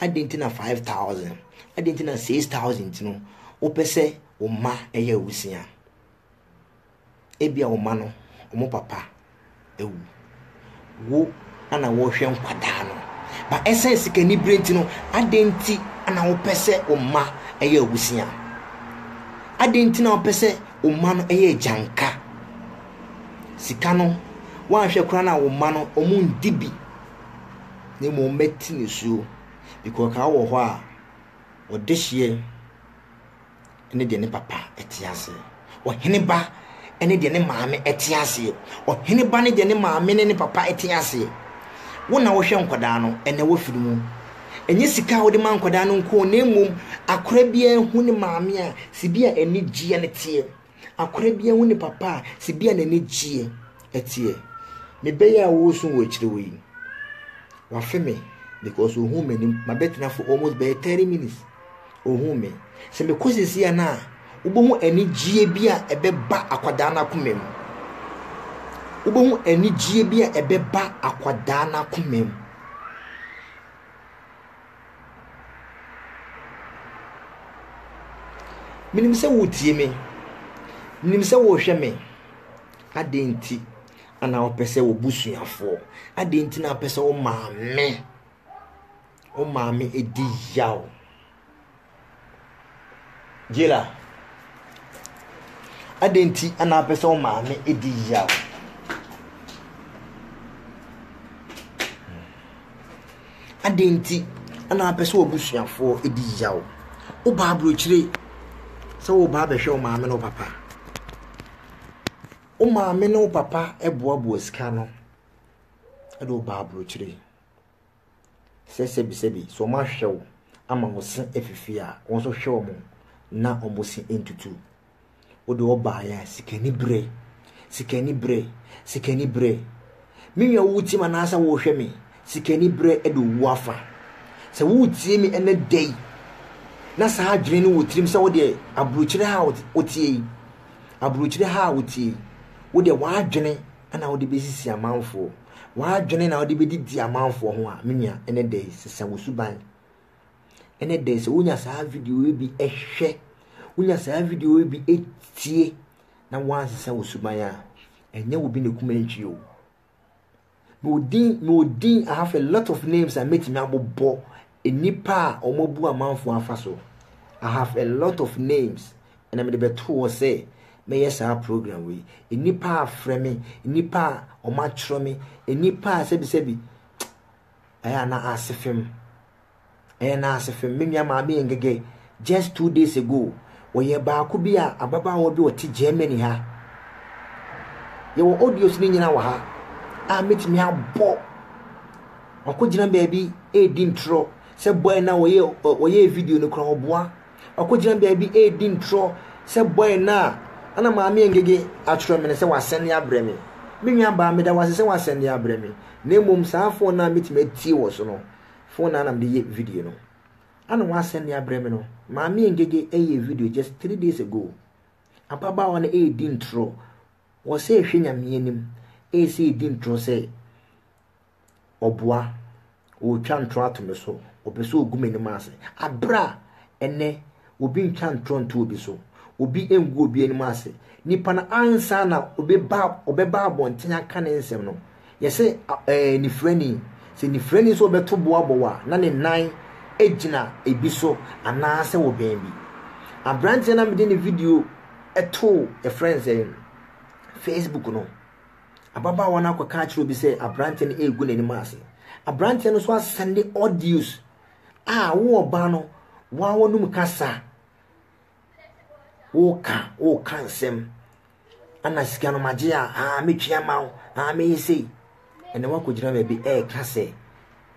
Adɛn nti na 5,000? Adɛn nti na 6,000 nti no wopɛ sɛ wo mma yɛ awusia? Ebia wo mma no, wɔn papa awu. Wo na wɔrehwɛ nkwadaa no. Ba ɛsɛn sikani bere nti no, adɛn nti na wopɛ sɛ wo mma yɛ awusia? Adɛn nti na wopɛ sɛ wo mma no yɛ agyanka? Sika no, woanhwɛ koraa na wo mma no, wɔn ndi bi. na mmom mɛte nisuo, because ka wɔ hɔ a ɔdehyeɛ ne deɛ ne papa te aseɛ ɔhene ba ne deɛ ne maame te aseɛ ɔhene ba ne deɛ ne maame ne ne papa te aseɛ wo na wohwɛ nkwadaa no ɛnɛ wafiri mu ɛnyɛ sika a wode ma nkwadaa no nko na mmom akora biara hu ne maame a si bi a ɛne gyeɛ ne teɛ Akora bia hu ne papa a sɛ bia n'ani gyeɛ ɛteɛ. Me bɛyɛ a wosu wɔ akyire hɔ yi, wafe me because ohun m'anim. Mabɛtena for almost bɛyɛ 30 minutes. Ohun me. Sɛ mekɔ sisi a na a, wobɛhu anigyeɛ bi a ɛbɛba akwadaa no akoma mu. Wobɛhu anigyeɛ bi a ɛbɛba akwadaa no akoma mu. Menim sɛ wotie me. Menim sɛ wohwɛ me. Adɛn nti na wopɛ sɛ wo busuafoɔ? Adɛn nti na wopɛ sɛ wo maame wo maame di yaw? Jayla, adɛn nti na apɛ sɛ wo maame di yaw? Adɛn nti na apɛ sɛ w'abusuafoɔ di yaw? Wobaa aburokyire sɛ woba abɛhwɛ wo maame ne wo papa. Wo maame ne wo papa boaboa sika no de wobaa aburokyire. sɛ sɛbisɛbi sɛ wɔahwɛ wo ama wo se afifi a, wɔn nso hwɛ wɔn na wɔn se ntutu. Wode wɔbaeɛ a, sikani berɛ, sikani berɛ, sikani berɛ. Me nua wotie me anaasɛ wohwɛ me? Sikani berɛ de owu afa. Sɛ wotie me ɛnɛ da yi na saa adwene no wɔ tirim sɛ wodeɛ aburokyire ha a wotie yi, aburokyire ha a wotie yi, wodeɛ w'adwene na wode besisi amanfoɔ, w'adwene na wode bedidi amanfoɔ ho a, me nua, ɛnɛ da yi sesa wo suban. Ɛnɛ da yi sɛ wonya saa video yi bi ɛhwɛ, wonya saa video yi bi etie, na wansesa wo suban a, ɛnyɛ wo bi na ekuma ntwi o. Me odin, me odin, I have a lot of names a metumi abobɔ Nnipa a wɔabu amanfoɔ afa so. I have a lot of names ɛna mede bɛtoo hɔ sɛ mɛyɛ saa program wei. Nnipa a frɛ me, nnipa a wɔatwerɛ me, nnipa a sɛbisɛbi ɛyɛ na ase fam. Ɛyɛ na ase fam. Me nua maame yɛ ngɛgɛ Just two days ago, wɔyɛ baako bi a ababaawa bi a ɔte Germany ha. Yɛwɔ audios no nyina wɔ ha a mɛtumi abɔ. Wakɔgyina baabi ɛredi ntorɔ sɛ boy no a wɔyɛ wɔyɛ video no kora ɔboa. Wakɔgyina baabi ɛredi ntorɔ sɛ boy no a ana maame ngege atwerɛ me no sɛ wasɛnde abrɛ me. Me nua baa meda wase sɛ wasɛnde abrɛ me. Na mmom saa phone no a mɛtumi atie wɔ so no, phone no a na mede yɛ video no. Ana wasɛn de abrɛ me no. Maame Ngege ɛyɛɛ video just three days ago. Ababaawa no ɛredi ntorɔ. Wɔ sɛ ɛhwɛ Nyame anim. Ɛyɛ sɛ ɛredi ntorɔ sɛ ɔboa. Ɔretwa ntorɔ ato me so. Ɔpɛ sɛ ɔgu m'anim ase. Aberɛ a ɛnɛ obi ntwa ntorɔ nto obi so. Obi ngu obi anim ase. Nipa no ansa na ɔbɛba abɔnten aka ne nsɛm no. yɛse ɛɛ nifirani. Sɛ nifirani nso ɔbɛto bo abɔ wo a, na ne nan gyina ebi so anaasɛ wɔ baabi. Aberanteɛ na mede ne video too yɛfrɛ no sɛ Facebook no, ababaawa no akɔka akyerɛ obi sɛ aberanteɛ no ɛregu n'anim ase. Aberanteɛ no nso asɛnde audios a wo ɔbaa no wɔanom kasa woka woka nsɛm ana sika no magye a aa metwea ma wo aa meyɛ sei ɛnɛ woakɔgyina baabi ɛɛka sɛ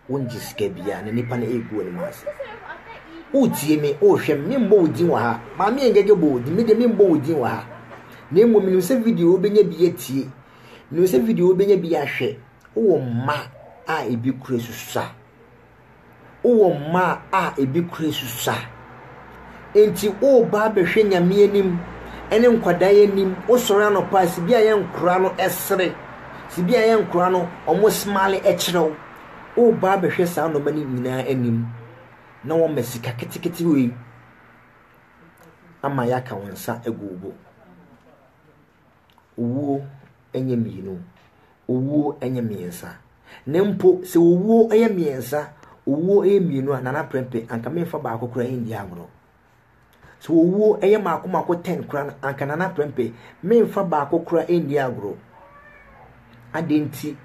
wongye sika bia na nipa no ɛɛgu anim ase wotie me wohwɛ me membɔ wo din wɔ ha maame yɛ ngɛgɛ bɔ wo din mede membɔ wo din wɔ ha na mmom menim sɛ video wobɛnya bi atie menim sɛ video wobɛnya bi ahwɛ wowɔ mma a ebi kura susa wowɔ mma a ebi kura asusua. Enti woreba abɛhwɛ Nyame anim ne nkwadaa anim, wosɔre anɔpa a, sibia yɛ nkwadaa no sere, sibia yɛ nkwadaa no wɔn smile kyerɛ wo. Woreba abɛhwɛ saa nneɛma no nyinaa anim na wɔma sika ketekete wei ama yɛaka wo nsa agu wo bo. Owuo nyɛ mmienu, owuo nyɛ mmiɛnsa. Na mpo sɛ owuo yɛ mmiɛnsa, owuo yɛ mmienu a nana prɛmpe anka memfa baako koraa ndi agorɔ. Sɛ owuo yɛ mako mako ten koraa no anka nana prɛmpe memfa baako koraa ndi agorɔ. Adɛn nti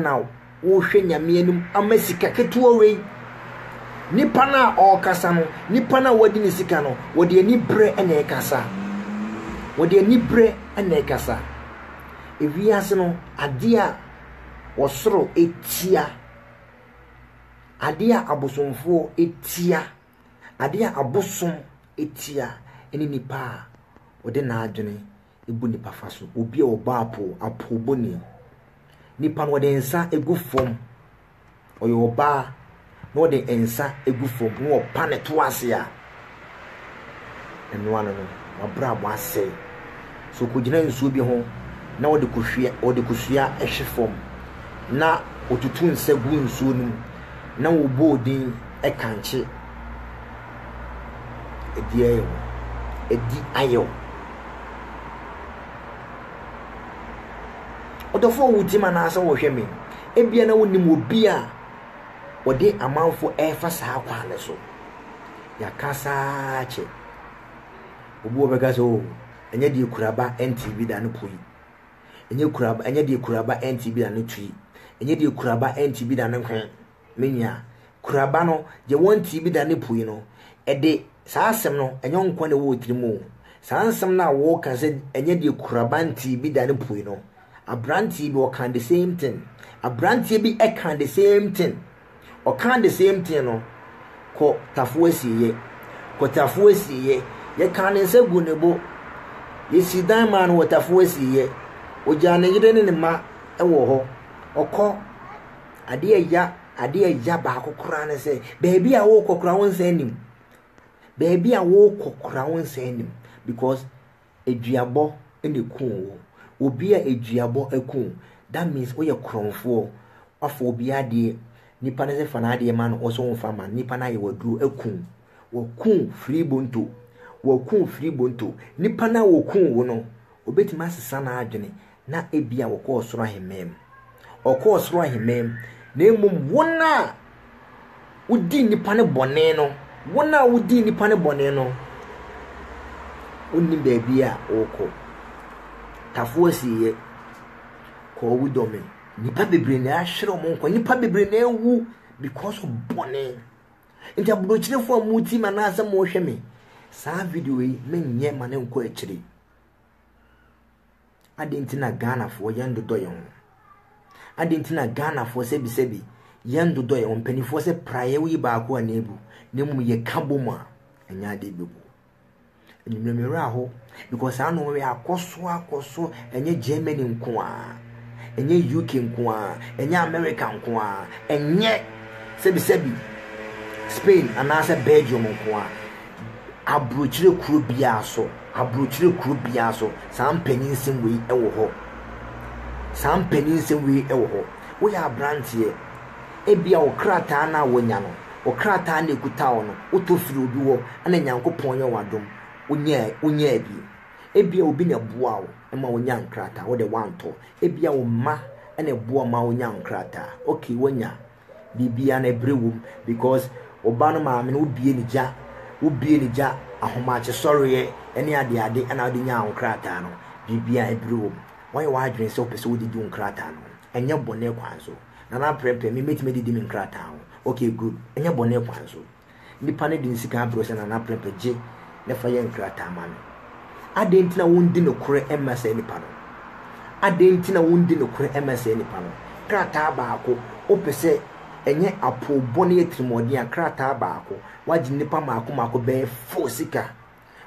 na worehwɛ Nyame anim ama sika ketewa wei? Nipa no a ɔrekasa no, nipa no a wadi ne sika no, wɔde aniberɛ na ɛrekasa. Wɔde aniberɛ na ɛrekasa. Ewiase no, adeɛ a ɔsoro tia, adeɛ a abosomfoɔ tia, adeɛ a abosom tia ne nipa a ɔde n'adwene bu nnipa fa so. Obi a ɔbɔ apoo, apoobɔni. Nipa no ɔde nsa gu fam. Ɔyɛ ɔbaa na ɔde nsa gu fam na ɔpa ne to ase a, ɛno ano no, w'abrabɔ asɛe. So ɔkɔgyina nsuo bi ho na ɔde kɔhwia, ɔde kosua hwe fam na ɔtutu nsa gu nsuo no mu na ɔbɔ odin kankye. Adi ayɛ wo. Adi ayɛ wo. Ɔdɔfoɔ wotie me anaasɛ wohwɛ me? Ebia na wonim obi a wɔde amanfo ɛrefa saa kwan no so. Yɛaka saa kyɛ. Obi wɔ bɛka sɛ o, oh, ɛnyɛ deɛ kuraba ɛnte bi da no pui. Ɛnyɛ kuraba ɛnyɛ deɛ kuraba ɛnte bi da no tui. Ɛnyɛ deɛ kuraba ɛnte bi da no hwɛn. me nua. Kuraba no, deɛ wɔntee bi da ne pue no, ɛde, saa asɛm no, ɛnyɛ wo nko ara na ɛwɔ wo tirim o. Saa nsɛm no a woreka sɛ ɛnyɛ deɛ kuraba ntee bi da ne pue no, aberanteɛ bi ɔkaa the same thing. Aberanteɛ bi ɛkaa the same thing. Ɔkaa the same thing no, kɔ tafo asieeɛ. Kɔ tafo asieeɛ. Yɛkaa ne nsa gu ne bo. Yɛsii dan maa no wɔ tafo asieeɛ. Ɔgyaa ne yere ne ne mma wɔ hɔ. Ɔkɔ. Adeɛ a ɛya adeɛ a ɛya baako koraa ne sɛ baabi a worekɔ koraa wo nsa anim baabi a worekɔ koraa wo nsa anim because aduabɔ na eku wo obi a aduabɔ aku that means woyɛ korɔnfoɔ wafa obi adeɛ nipa no sɛ fa n'adeɛ ma no ɔsɛ wɔn fa ma nipa no ayɛ waduro aku wɔku firi bonto wɔku firi bonto nipa no a wɔku wo no obetumi asesa n'adwene na ebia wɔkɔɔ soro ahemman mu. Wɔkɔɔ soro ahemman mu, na mmom wɔn a wodi nnipa no bɔne no, wɔn a wodi nnipa no bɔne no, wonni baabi a wɔkɔ. Tafo asieɛ, kɔɔ wu dɔme. Nnipa bebree na ahwere wɔn nkwa. Nnipa bebree na awu because of bɔne. Nti aburokyerefo a mo ti ma na asɛm mo hwɛ me. Saa video yi menyɛ ma ne nkɔ akyiri. Adɛn nti na Ghanafoɔ yɛndodɔ yɛn ho? Adɛn nti na Ghanafoɔ sɛbisɛbi yɛndodɔ yɛn ho? Mpanimfoɔ sɛ praeɛ woyi baako a na ebu na mmom yɛka bom a ɛnyɛ adeɛ bɛbu. Anwummerɛ me werɛ aho because saa no wei akɔ so akɔ so ɛnyɛ Germany nko a ɛnyɛ UK nko a ɛnyɛ America nko a ɛnyɛ sɛbisɛbi Spain anaasɛ Belgium nko a aburokyire kuro biara so Aburokyire kuro biara nso saa mpaninnsɛm wei wɔ hɔ. Saa mpaninnsɛm wei wɔ hɔ. Woyɛ abranteɛ, ebia wo krataa no a wanya no, wo krataa no a ɛkuta wo no, wotɔ firii obi hɔ na Nyankopɔn yɛ wo adom, wonyaa, wonyaa bi. Ebia obi na ɛboaa wo ma wonyaa nkrataa, wo deɛ woantɔ. Ebia wo mma na ɛboa wo ma wonyaa nkrataa. Okay, wanya. biribia no ɛbrɛ wom because ɔba no maame no wobie ne gya wobie ne gya ahomakye sɔreɛ ɛne adeade ɛna wode nyaa wo krataa no biribia ɛbrɛ wom wɔyɛ w'adwene sɛ wopɛ sɛ wode di wo nkrataa no ɛnyɛ bɔne kwan so nana prɛprɛ me mɛtumi adidi me nkrataa ho okay good ɛnyɛ bɔne kwan so Nnipa no de nsikan abrɛsɛ anaa n'aprɛpɛ gye na ɛfa yɛ nkrataa ma no. Adɛn nti na wondi nokorɛ mma saa nipa no? Adɛn nti na wondi nokorɛ mma saa nipa no? Krataa baako, wopɛ sɛ ɛnyɛ apoobɔ ne atirimuɔden a, krataa baako, woagye nnipa mmaako mmaako bɛyɛ four sika.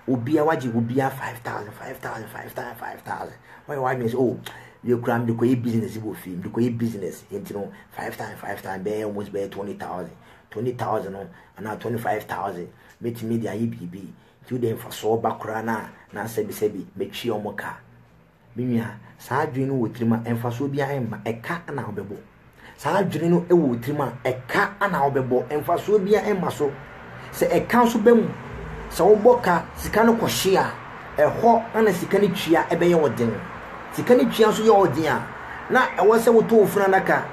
Obiara, woagye obiara five thousand, five thousand, five thousand, five thousand. Woayɛ w'adwene sɛ, oh, deɛ kura mede kɔyɛ business wɔ fie, mede kɔyɛ business, nti no, five thousand, five thousand, bɛyɛ almost bɛyɛ twenty thousand. twenty thousand no anaa twenty five thousand mɛtumi de ayɛ biribi nti wode mfasoɔ ba koraa no a na sɛbisɛbi mɛtwi ɔmo ka me nua saa adwene no wɔ tirim a mfasoɔ biara mma ɛka na wobɛbɔ saa adwene no wɔ tirim a ɛka na wobɛbɔ mfasoɔ biara mma so sɛ ɛka nso bɛ mu sɛ wobɔ ka sika no kɔhye a ɛhɔ na sika no twia ɛbɛyɛ ɔden sika no twia nso yɛ ɔden a na ɛwɔ sɛ wotɔ ofunu adaka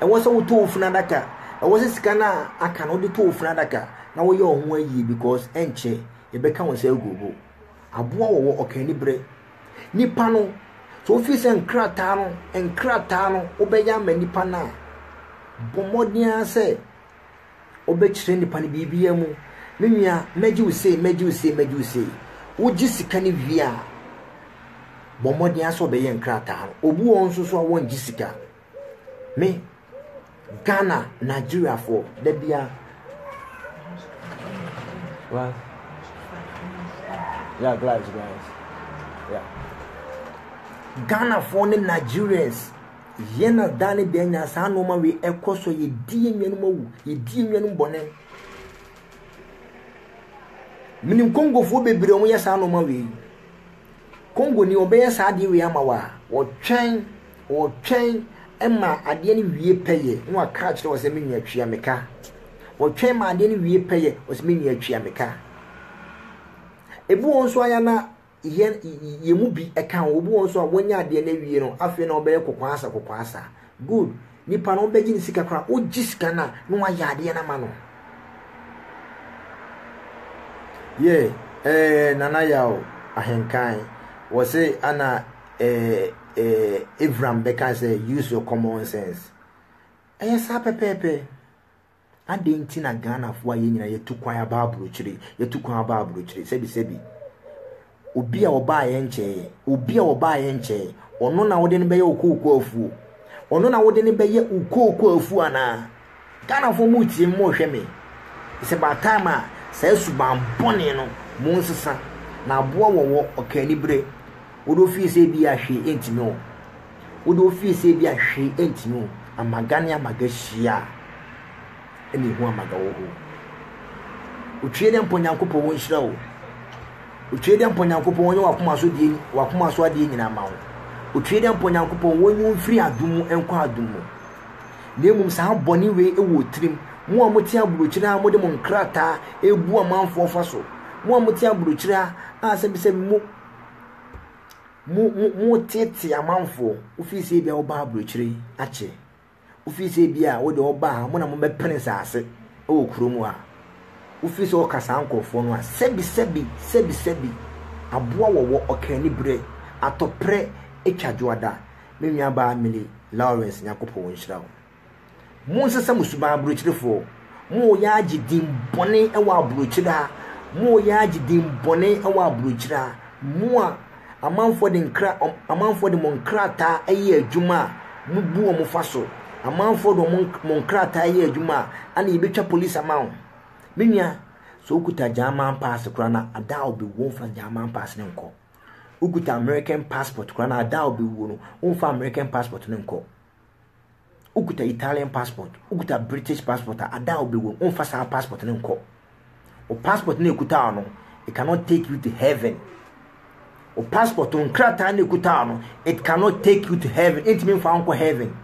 ɛwɔ sɛ wotɔ ofunu adaka Ɛwɔ sɛ sika no a aka no wode to wo funu adaka na woyɛ wo ho ayie because ɛnkyɛ yɛbɛka wo nsa agu wo bo. Aboa wɔwɔ ɔka ani berɛ. Nipa no, sɛ wofii sɛ nkrataa no nkrataa no wobɛyɛ ama nipa no a, bɔ mmɔden ara sɛ wobɛkyerɛ nipa no biribiara mu. Me nua, mɛgye wo sei, mɛgye wo sei, mɛgye wo sei. Wogye sika no wie a, bɔ mmɔden ara sɛ wobɛyɛ nkrataa no. Obu wɔ hɔ nso so a wɔngye sika. Me Ghana Nigeriafoɔ da biara glass yeah glass glass yeah Ghanafoɔ ne Nigerians yɛn na daa ne deɛ nya saa nneɛma wei ɛkɔ so yɛdi yɛn nuanom awu yɛdi yɛn nuanom bɔne menim kongofoɔ bebree wɔn yɛ saa nneɛma wei Congo ni wɔbɛyɛ saa adeɛ wei ama wo a, wɔtwɛn, wɔtwɛn ma adeɛ no wie pɛyɛ na wɔaka akyerɛ wɔ sɛ me nua tua me ka. Wɔtwɛn ma adeɛ no wie pɛyɛ wɔ sɛ me nua tua me ka. Ebi wɔn nso ayɛ na yɛn yɛn mu bi ɛka ho, obi wɔn nso a wɔnya adeɛ no awie no afei na wɔbɛyɛ kɔkɔasa kɔkɔasa. Good, Nipa no ɔbɛgye ne sika koraa ɔgye sika no a na wayɛ adeɛ no ama no. Yɛ ɛɛ nana yaw ahenkan wɔ se ana ɛɛ ɛɛ Evram bɛka sɛ use your common sense ɛyɛ saa pɛpɛɛpɛ. Adɛn nti na Ghanafoɔ a yɛn nyinaa yɛtu kwan aba aburokyire, yɛtu kwan aba aburokyire, sɛbisɛbi. Obi a ɔbaeɛ nkyɛɛ, obi a ɔbaeɛ nkyɛɛ, ɔno na wode no bɛyɛ wo kooko afuo. Ɔno na wode no bɛyɛ wo kooko afuo anaa? Ghanafoɔ mo tie me, mo hwɛ me. It's about time a saa suban bɔne no mo nsesa. Na aboa wɔwɔ ɔka anibere. Wode ofie sɛ ebi a hwee ntumi wo. Wo de wofie sɛ bi a hwee ɛntumi o, amaga ne amaga hyia a ɛna ehu amaga wɔ hɔ. Otwie dɛ mpɔ Nyankopɔn wo nhyira o. Otwie dɛ mpɔ Nyankopɔn wɔnyɛ wakoma so deɛ wakoma so adeɛ nyinaa ma wo. Otwie dɛ mpɔ Nyankopɔn wɔnyi wo mfiri adum mu nkɔ adum mu. Na mmom saa bɔne wei wɔ tirim, mo a mote aburokyire a mode mo nkrataa ebu amanfoɔ fa so, mo a mote aburokyire a a sɛbisɛbi mo. mo mo motetee amanfoɔ wofii sɛ ebia wobaa aburokyire akyɛ wofii sɛ ebia wode ɔbaa ha mo na mobɛpene saase wɔ kurom ha wofii sɛ ɔka saa nkurɔfoɔ no a sɛbi sɛbi sɛbi sɛbi aboa wɔwɔ ɔkani berɛ atɔprɛ atwa dwoada me nuabaa Millie Lawrence Nyankopɔn nhyira wo Monsesa mo suban aborɔkyirefɔɔ, mo a ɔyaa gye din bɔne wɔ aborɔkyira, mo a ɔyaa gye din bɔne wɔ aborɔkyira, mo a amanfoɔ de nkra, amanfoɔ de mo nkrataa ɛyɛ adwuma a mo bu wɔn fa so, amanfoɔ de wɔn mo nkrataa ɛyɛ adwuma a ana yɛbɛtwa police ama wɔn. Me nua, sɛ wokuta German pass koraa na ada a ɔbɛwuo womfa German pass no nkɔ. Wokuta American passport koraa na ada a ɔbɛwuo no womfa American passport no nkɔ. wokuta Italian passport, wokuta British passport a, ada a wobɛwɔ mu, womfa saa passport no nkɔ. Wo passport no ekuta no, it cannot take you to heaven. Wo passport no nkrataa no ekuta no, it cannot take you to heaven. Entumi mfa nkɔ heaven.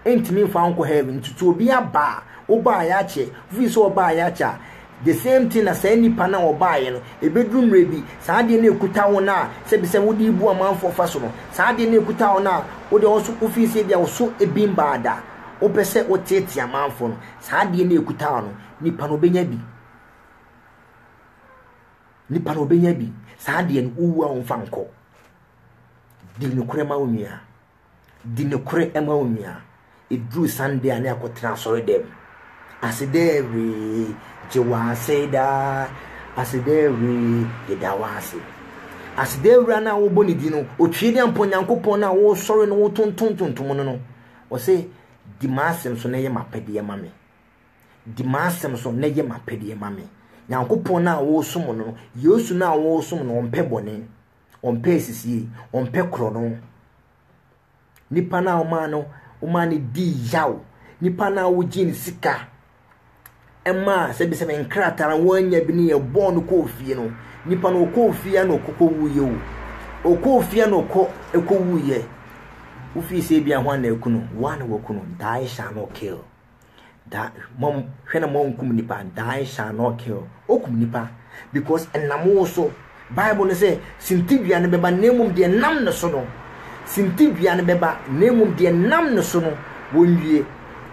Entumi mfa nkɔ heaven. Ntutu obi aba a, wobaa yɛakyɛ, wofiri sɛ ɔbaa yɛakyɛ a, The same thing na saa nnipa no a wɔbaeɛ no, ɛbɛduru mmerɛ bi, saa adeɛ no a ɛkuta wo no a sɛ bi sɛ wode rebu amanfoɔ fa so no, saa adeɛ no a ɛkuta wo no a wo deɛ wo nso wo feel sɛ ebia wo so ebin baa da, wo pɛ sɛ wo teetee amanfoɔ no, saa adeɛ no a ɛkuta wo no, nipa no ɔbɛnya bi. Nipa no ɔbɛnya bi. Saa adeɛ no, wo wu a wɔmfa nkɔ. Di nokorɛ ma wo nua. Di nokorɛ ma wo nua. Ɛduru Sunday a ne akɔtena asɔredɛm. Asedɛɛwee, gye wo ase daa. Asedɛɛwee, yɛda wo ase. Asedɛɛwura no a wobɔ ne din no, ɔtwe de ampɔ Nyankopɔn no a wosɔre no wotontontontom no no. Ɔse, di m'asɛm so na yɛ m'apɛdeɛ ma me. Di m'asɛm so na yɛ m'apɛdeɛ ma me. Nyankopɔn no a wosom no, Yesu no a wosom no, ɔmpɛ bɔne. ɔmpɛ asisie ɔmpɛ korɔno nipa no a ɔmaa no ɔmaa no dii yaw nipa no a wogyee ne sika ɛmaa sɛbisɛbi nkrataa no wɔanya bi ne yɛ bɔɔ no kɔɔ fie no nipa no ɔkɔɔ fie a na ɔkɔkɔ wuiɛ o ɔkɔɔ fie a na ɔkɔ ɛkɔ wuiɛ wofii sɛ bi ahoa na ɛku no woa na wɔku no thou shall not kill da mom hwɛ na mo nkum nipa die shall not kill okum nipa because ɛnam wo so bible no sɛ sintidua no bɛba na mmom deɛ nam ne so no sintidua no bɛba na mmom deɛ nam ne so no wɔnwie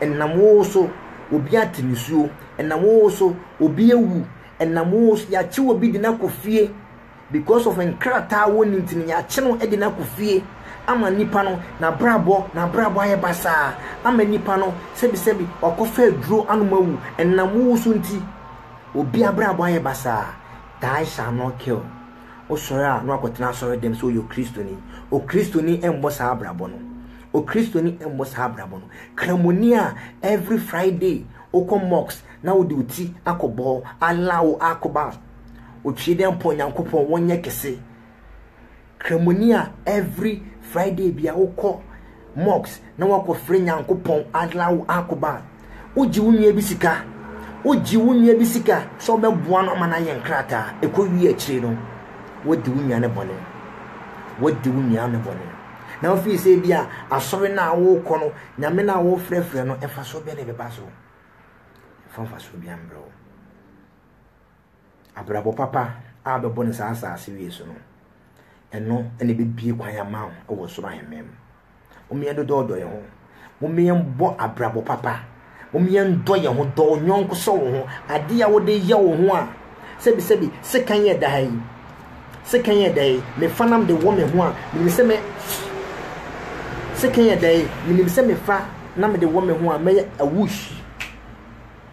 ɛnam wo so obi ate nisuo ɛnam wo so obi awu ɛnam wo so yɛakye obi de no akɔ fie Because of nkrataa a wɔnni nti no, yɛakye no de no akɔ fie ama nipa no, n'abrabɔ n'abrabɔ ayɛ basaa ama nipa no, sɛbisɛbi wakɔfa aduro anom awu, ɛnam wo wusu nti, obi abrabɔ ayɛ basaa, die shall not kill. Wosɔre a na wakɔtena asɔre dɛm sɛ ɔyɛ Okristoni. Okristoni mmɔ saa abrabɔ no. Okristoni mmɔ saa abrabɔ no. Kramoni a every Friday wokɔ mosque na wode wo ti akɔbɔ, Allah wo akbar, Otwie dɛ mpo Nyankopɔn wɔnyɛ kɛse. Kramoni a every Friday bia wokɔ mosque na wɔakɔfrɛ Nyankopɔn Allahu Akbar. Wogye wo nua bi sika, wogye wo nua bi sika sɛ wobɛboa no ama no ayɛ nkrataa, ɛkɔwie akyire no wadi wo nua no bɔne. Wadi wo nua no bɔne. Na wofii sɛ bia asɔre no a wokɔ no, Nyame no a wofrɛfrɛ no, mfasoɔ bɛn na ɛbɛba so? Ɛmfa mfasoɔ bia mbrɛ wo. Abrabɔ papa a bɛbɔ no saa asaase wei so no, ɛno na ɛbɛbie kwan ama wo wɔ soro ahemman mu. Mom yɛn dodɔ ɔdɔ yɛn ho. Mom yɛn bɔ abrabɔ papa. Mom yɛn dɔ yɛn ho, dɔ wo nyɔnko sɛ wo ho. Adeɛ a wode yɛ wo ho a, sɛbi sɛbi, sekan yɛ da ha yi. Sekan yɛ da yi, mefa nam de wɔ me ho a, menim sɛ me sekan yɛ da yi, menim sɛ mefa nam de wɔ me ho a, mɛyɛ awush.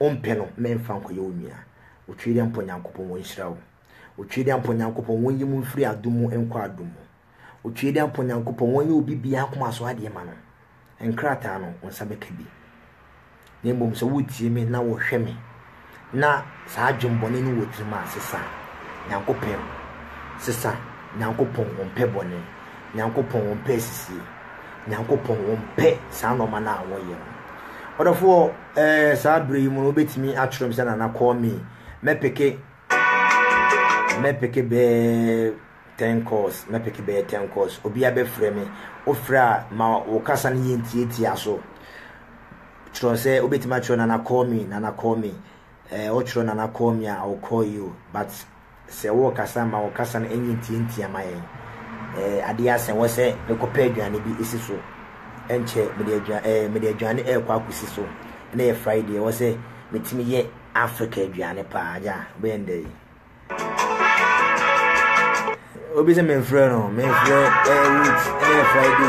ompɛ no na ɛmfa nkɔyɛ wo nua. Otwedeampɔ Nyankopɔn onhyira wo. Otwedeampɔ Nyankopɔn onyi mo mfiri adom mu nkɔ adom mu. Otwedeampɔ Nyankopɔn onyɛ obi biara koma so adeɛ ma no. Nkrataa no, wo nsa bɛka bi. Na mmom sɛ wotie me na wɔhwɛ me, na saa adwembɔne no wɔ tirim a, sesa. Nyankopɛn sesa. Nyankopɔn ompɛ bɔne. Nyankopɔn ɔmpɛ asisie. Nyankopɔn ɔmpɛ saa nnoɔma no a wɔyɛ no. Ɔdɔfoɔ ɛɛ eh, saa berɛ yi mu no wobɛtumi atwerɛ m sɛ nana call me. Mɛpeke mɛpeke bɛɛ ten calls mɛpeke bɛɛ ten calls obiara bɛfrɛ me. Wofrɛ a ma wo kasa no yɛ ntiatia so. Twerɛ sɛ wobɛtumi atwerɛ nana call me nana call me. Ɛɛ eh, wotwerɛ nana call me a I will call you but Sɛ worekasa ma wo kasa no nyɛ ntiantia ma yɛn. Eh, adeɛ asɛ wɔ sɛ mekɔpɛ aduane bi si so. Ɛnkyɛ mede aduane eh, mede aduane ɛrekɔ akɔsi so. Ɛnɛ yɛ Friday, ɛwɔ sɛ metumi yɛ Africa aduane paa. Agya, bɛyɛ ndɛ yi. Obi sɛ memfrɛ no, memfrɛ eh, wait, ɛnɛ yɛ Friday.